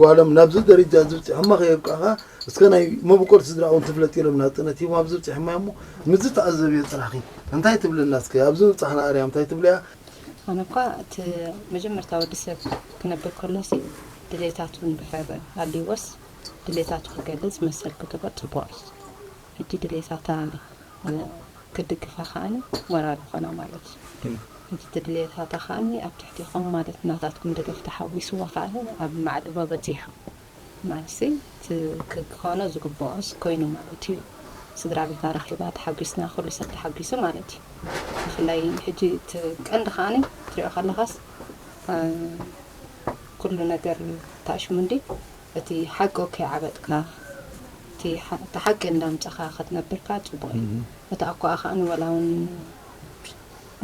ጓሎም ናብዚ ደረጃ እዚ ብጺሖማ ከየብቅዕኻ እስከ ናይ መበቆል ስድራ እውን ትፍለጥ ኢሎም ናጽነት ሂቦም ኣብዚ ብጺሖማ እሞ ምስ ዝተኣዘብዮ ጽናሕኺ እንታይ ትብልና እስከ ኣብዚ ምብጻሕና ኣርያም እንታይ ትብልያ ኣነ እኳ እቲ መጀመርታ ወዲ ሰብ ክነብር ከሎሲ ድሌታቱ እንድሕር ኣልይዎስ ድሌታቱ ክገልጽ መሰል ክግበር ጽቡቕ እዩ። ሕጂ ድሌታታ ክድግፋ ከኣኒ ሞራል ይኾና ማለት እዩ። ሕጂ እቲ ድሌታታ ከኣኒ ኣብ ትሕቲኹም ማለት ናታትኩም ደገፍ ተሓዊስዋ ከኣ ኣብ ማዕዶ በጺሑ። ማይሲ እቲ ክኾኖ ዝግብኦስ ኮይኑ ማለት እዩ ስድራ ቤታ ረኺባ ተሓጊስና ኩሉ ሰብ ተሓጊሱ ማለት እዩ ብፍላይ ሕጂ እቲ ቀንዲ ከኣኒ ክትሪኦ ከለኻስ ኩሉ ነገር ታሽሙንዲ እቲ ሓቂ ከይዓበጥካ እቲ ሓቂ እንዳምጻኻ ክትነብርካ ጽቡቕ እዩ እቲ ኣኳኣ ከኣኒ ወላ ውን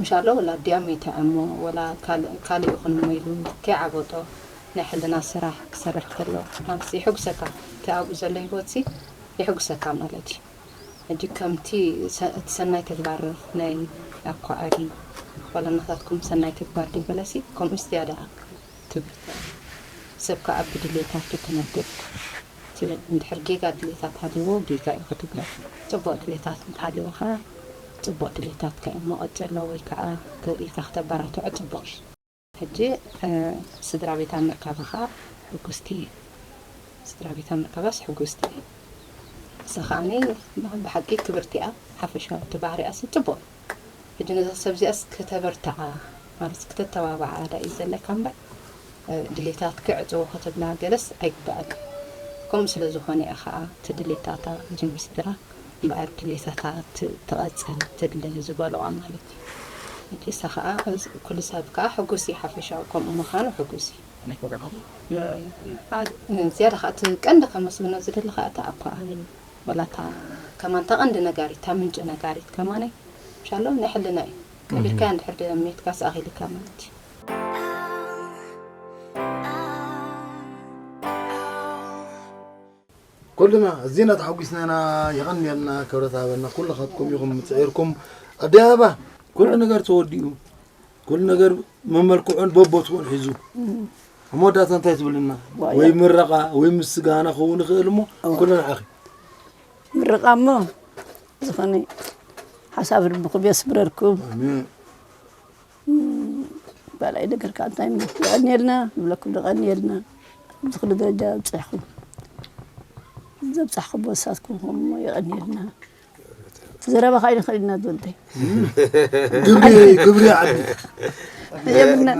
እንሻላ ወላ ድያ መይታ እሞ ወላ ካልእ ካልእ ይኹን እሞ ኢሉ ከይዓበጦ ናይ ሕልና ስራሕ ክሰርሕ ከሎ ኣንተስ የሕጉሰካ እቲ ኣብኡ ዘሎ ሂወትሲ የሕጉሰካ ማለት እዩ ሕጂ ከምቲ እቲ ሰናይ ተግባር ናይ ኣኳኣዲ ወላ ናታትኩም ሰናይ ተግባር ድዩ በለሲ ከምኡ ዝያዳ ትብል ሰብ ካኣ ብድልየታቱ ክነብር ትብል እንድሕር ጌጋ ድሌታት ሃልይዎ ጌጋ ኢዩ ክትብሎ ጽቡቅ ድሌታት እንተሃልይዎ ከኣ ጽቡቅ ድሌታትካ ኢሞ ቀጽሎ ወይ ከኣ ክብሪትካ ክተበራትዖ ጽቡቅ ኢዩ። ሕጂ ስድራቤታ ምርካባ ከኣ ሕጉስቲ ኢየ ስድራቤታ ምርካባስ ሕጉስቲ ኢየ ንሳ ከኣ ብሓቂ ክብርቲ ኢያ ሓፈሻዊ እቲ ባህሪኣሲ ጽቡቅ ኢዩ። ሕጂ ነዛ ሰብ እዚኣስ ከተበርትዓ ማለት ክተተባብዓ ዳዩ ዘለካ እምበር ድሌታት ክዕጽዎ ክትብላ ገለስ ኣይግብኣካን ከምኡ ስለ ዝኾነ እያ ከኣ እቲ ድሌታታ ጅምስጥራ እምበኣር ድሌታታ ትቐጽል ትድለ ዝበሉዋ ማለት እዩ ሕጂ ንሳ ከኣ ኩሉ ሰብ ከኣ ሕጉስ እዩ ሓፈሻዊ ከምኡ ምኻኑ ሕጉስ እዩ። ዝያዳ ከኣ እቲ ቀንዲ ከመስግኖ ዝደሊ ከኣ እቲ ኣቦኣ እዩ። ዋላ እታ ከማን እታ ቀንዲ ነጋሪት እታ ምንጪ ነጋሪት ከማን ሻሎም ናይ ሕልና እዩ ቀቢርካያ እንድሕር ሜትካስ ኣኺሊካ ማለት እዩ። ኩልና ኣዚና ተሓጒስና ኢና የቐንየልና ክብረት ሃበልና ኩልኻትኩም ኢኹም ፅዒርኩም ኣደይ ኣበባ ኩሉ ነገር ተወዲኡ ኩሉ ነገር መመልክዑን በቦትኡን ሒዙ ኣብ መወዳእታ እንታይ ትብልና ወይ ምረቓ ወይ ምስጋና ክኸውን ይኽእል እሞ ኩሉ ንዓኺ ምረቓ እሞ ዝኾነ ሓሳብ ልብኹም የስምረልኩም ባላይ ነገር ከዓ እንታይ የቐንየልና ንብለኩም ንቐንየልና ኣብዚ ኩሉ ደረጃ ኣብፅሕኹም ዘብፃሕኹም ወሳትኩም ኹም እሞ የቐንየልና ዘረባ ካይነ ከይድና ዶንተይ ግብሪ ግብሪ ዓዲ የብልና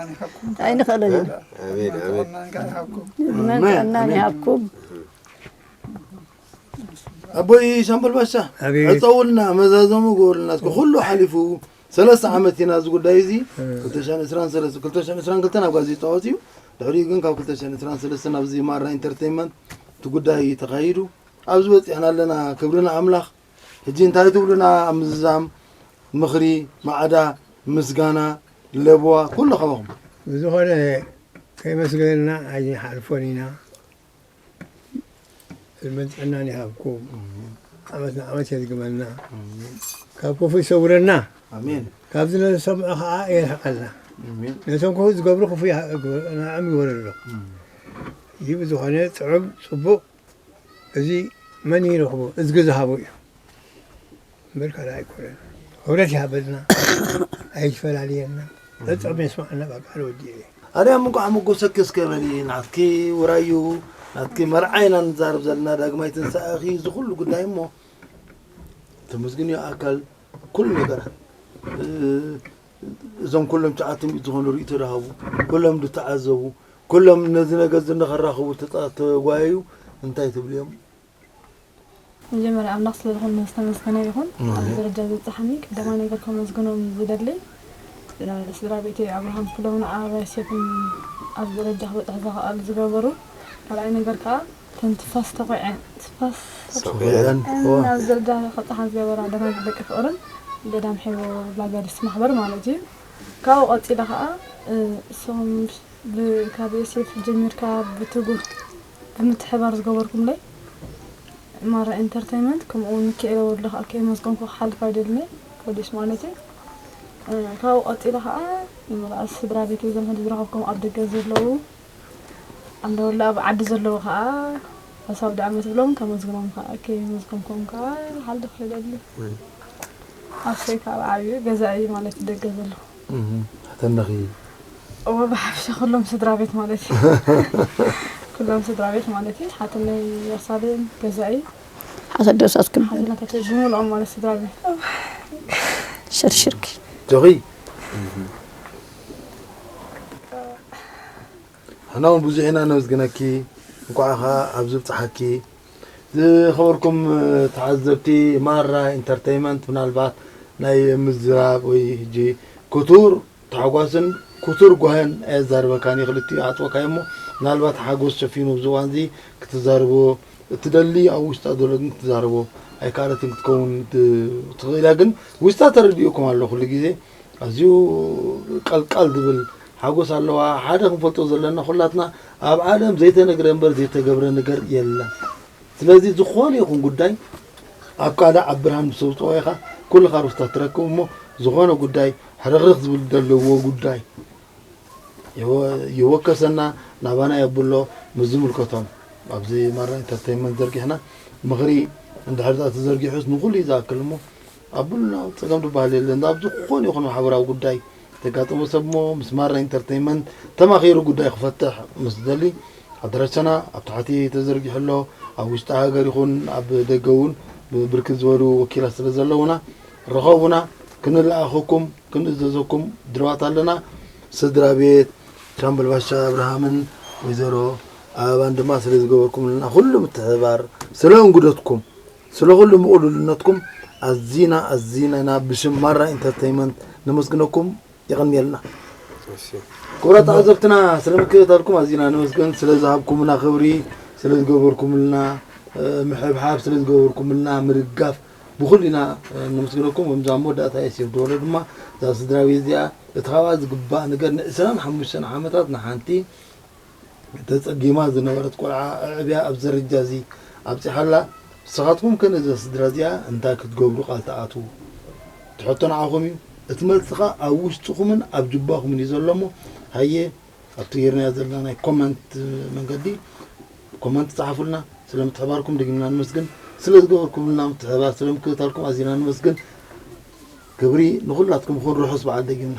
ኣይንኽእልን መናን ይሃብኩም ኣቦይ ሻምበል ባሻ ዕፀውልና መዛዘሙ ገበሩልና እስከ ኩሉ ሓሊፉ ሰለስተ ዓመት ኢና እዚ ጉዳይ እዚ 222 ናብ ጋዜጣ ወፅዩ ድሕሪኡ ግን ካብ 223 ናብዚ ማራ ኢንተርቴንመንት እቲ ጉዳይ ተኻይዱ ኣብዚ በጺሕና ኣለና ክብሪ ንኣምላኽ። ሕጂ እንታይ ትብሉና ኣብ ምዝዛም ምኽሪ ማዕዳ ምስጋና ለበዋ ኩሉ ካባኹም። ብዝኾነ ከየመስገንና ኣይንሓልፎን ኢና ዕድመን ጥዕናን ይሃብኩም ዓመት ንዓመት የድግመልና ካብ ክፉ ይሰውረና ኣሜን ካብዚ ንሰምዖ ከዓ የርሕቀልና ኣሜን ነቶም ክፉ ዝገብሩ ክፉ ንዕም ይወረዶ እዩ ብዝኾነ ጥዑም ፅቡቅ እዚ መን ይረኽቦ እዝጊ ዝሃቦ እዩ እምበር ካልእ ኣይኮነን። ክብረት ይሃበልና ኣይፈላልየና ጸብጻብ የስምዓልና ካብ በዓል ወዲ እየ። ኣርያም እንኳዕ መጎሰኪ እስከ በሊ ናትኪ ውራዩ ናትኪ መርዓ ኢና ንዛረብ ዘለና ዳግማይ ትንሳኤኺ እዚ ኩሉ ጉዳይ እሞ ተመስግንዮ ኣካል ኩሉ ነገራት እዞም ኩሎም ትሽዓተ ሚእቲ ዝኾኑ ርእይቶ ዝሃቡ፣ ኩሎም ዝተዓዘቡ፣ ኩሎም ነዚ ነገር እዚ ንኸራኽቡ ዝተጓየዩ እንታይ ትብሉ እዮም? መጀመርያ ኣምላኽ ስለ ዝኾነ ዝተመስገነ ይኹን ኣብዚ ደረጃ ዘብጽሓኒ፣ ቀዳማይ ነገር ከመስግኖም ዝደሊ ንስድራቤተይ ኣብርሃም ክፍሎምን ኣባይ ሴፍን ኣብዚ ደረጃ ክበጽሕ ዝኸኣል ዝገበሩ፣ ካልኣይ ነገር ከኣ እተን ትፋስ ተቑዐን ትፋስ ተቑዐን ናብ ዝርጋሐ ክብጽሓ ዝገበራ ደናግል ደቂ ፍቕርን ገዳም ሐይቦ ላጋዲስ ማሕበር ማለት እዩ። ካብኡ ቀጺለ ከኣ እሶም ብ ካብ ዮሴፍ ጀሚርካ ብትጉህ ብምትሕብባር ዝገበርኩምለይ ማራ ኢንተርተይመንት ከምኡ ውን ሚኪኤለ ወልዱ ከኣ ከየመስገንኩ ክሓልፍ ኣይደልን'የ ፖሊስ ማለት እዩ። ካብኡ ቀጺለ ከኣ ንመላእ ስድራቤተይ ዘመድ ዝረኸብኩም ኣብ ደገ ዘለዉ ኣለወላ ኣብ ዓዲ ዘለዉ ከኣ ሓሳብ ደኣ መስብሎም ከመዝግኖም ከኣ ከይመዝገምኩም ከኣ ክሓልፍ ይደሊ ኣሰይ ካብ ዓብዩ ገዛ እዩ ማለት ደገ ዘሎ ተነኺ እወ ብሓፍሻ ኩሎም ስድራ ቤት ማለት እዩ ኩሎም ስድራ ቤት ማለት እዩ ሓትነይ ያሳልን ገዛኢ ሓሰደሳትኩም ሓትነታቸው ብምልኦም ማለት ስድራ ቤት ሸርሽርኪ ጆኺ ንሕና እውን ብዙሕ ኢና ነመስግነኪ እንኳዕ ኸዓ ኣብዚ ብፅሓኪ ዝኸበርኩም ተዓዘብቲ ማራ ኢንተርቴይመንት ምናልባት ናይ ምዝራብ ወይ ሕጂ ክቱር ታሕጓስን ክቱር ጓህን ኣየዛርበካን እዩ ክልቲኡ ዓፅወካዮ እሞ ምናልባት ሓጎስ ሸፊኑ ኣብዚ እዋን እዚ ክትዛርቦ እትደሊ ኣብ ውሽጣ ዘሎ ግን ክትዛርቦ ኣይከኣለትን ክትከውን ትኽእል እያ ግን ውሽጣ ተረዲኡኩም ኣሎ ኩሉ ግዜ ኣዝዩ ቀልቃል ዝብል ሓጎስ ኣለዋ። ሓደ ክንፈልጦ ዘለና ኩላትና ኣብ ዓለም ዘይተነግረ እምበር ዘይተገብረ ነገር የለን። ስለዚ ዝኾነ ይኹን ጉዳይ ኣብ ቃልዕ ኣብ ብርሃን ምስ ተውፅኦ ኢኻ ኩልኻ ርስታት ትረክብ እሞ ዝኾነ ጉዳይ ሕርኽርኽ ዝብል ዘለዎ ጉዳይ ይወከሰና ናባና የብሎ ምስ ዝምልከቶም ኣብዚ ማራ ኢንተርቴንመንት ዘርጊሕና ምኽሪ እንድሕር ተዘርጊሑስ ንኹሉ እዩ ዝኣክል እሞ ኣቡና ጸገም ድበሃል የለን ኣብ ዝኾነ ይኹን ማሕበራዊ ጉዳይ ዘጋጠሞ ሰብ እሞ ምስ ማራ ኢንተርተይመንት ተማኺሩ ጉዳይ ክፈትሕ ምስ ዝደሊ ኣድራሻና ኣብ ታሕቲ ተዘርጊሑ ኣሎ ኣብ ውሽጢ ሃገር ይኹን ኣብ ደገ እውን ብብርክት ዝበሉ ወኪላት ስለ ዘለውና ርኸቡና ክንልኣኸኩም ክንእዘዘኩም ድልዋት ኣለና ስድራ ቤት ሻምበል ባሻ ኣብርሃምን ወይዘሮ ኣበባን ድማ ስለ ዝገበርኩምልና ኩሉ ምትሕብባር ስለ እንግዶትኩም ስለ ኩሉ ምቕሉልነትኩም ኣዚና ኣዚነና ብሽም ማራ ኢንተርተይመንት ነመስግነኩም የቐንየልና። ክቡራት ተዓዘብትና ስለ ምክትታልኩም ኣዚና ነመስግን። ስለ ዝሃብኩምና ክብሪ፣ ስለ ዝገበርኩምልና ምሕብሓብ፣ ስለ ዝገበርኩምልና ምድጋፍ ብኹሉ ኢና ነመስግነኩም። ከምዚ ኣብ መወዳእታ የሲር ድበሎ ድማ እዛ ስድራቤት እዚኣ እቲ ካብኣ ዝግባእ ነገር ንዕስራን ሓሙሽተን ዓመታት ንሓንቲ ተጸጊማ ዝነበረት ቆልዓ ኣዕብያ ኣብዚ ደረጃ እዚ ኣብጺሓ ኣላ። ንስኻትኩም ከ ነዛ ስድራ እዚኣ እንታይ ክትገብሩ ቃል ትኣትዉ? እቲ ሕቶ ንዓኹም እዩ። እቲ መልሲ ከኣ ኣብ ውሽጥኹምን ኣብ ጁባኹምን እዩ ዘሎ እሞ ሃየ ኣብቲ ጌርናዮ ዘለና ናይ ኮመንት መንገዲ ኮመንት ጸሓፉልና። ስለ ምትሕባርኩም ደጊምና ነመስግን። ስለ ዝገበርኩምልና ምትሕብባር ስለ ምክትታልኩም ኣዚና ነመስግን። ክብሪ ንኹላትኩም ይኹን። ርሑስ በዓል ደጊምና።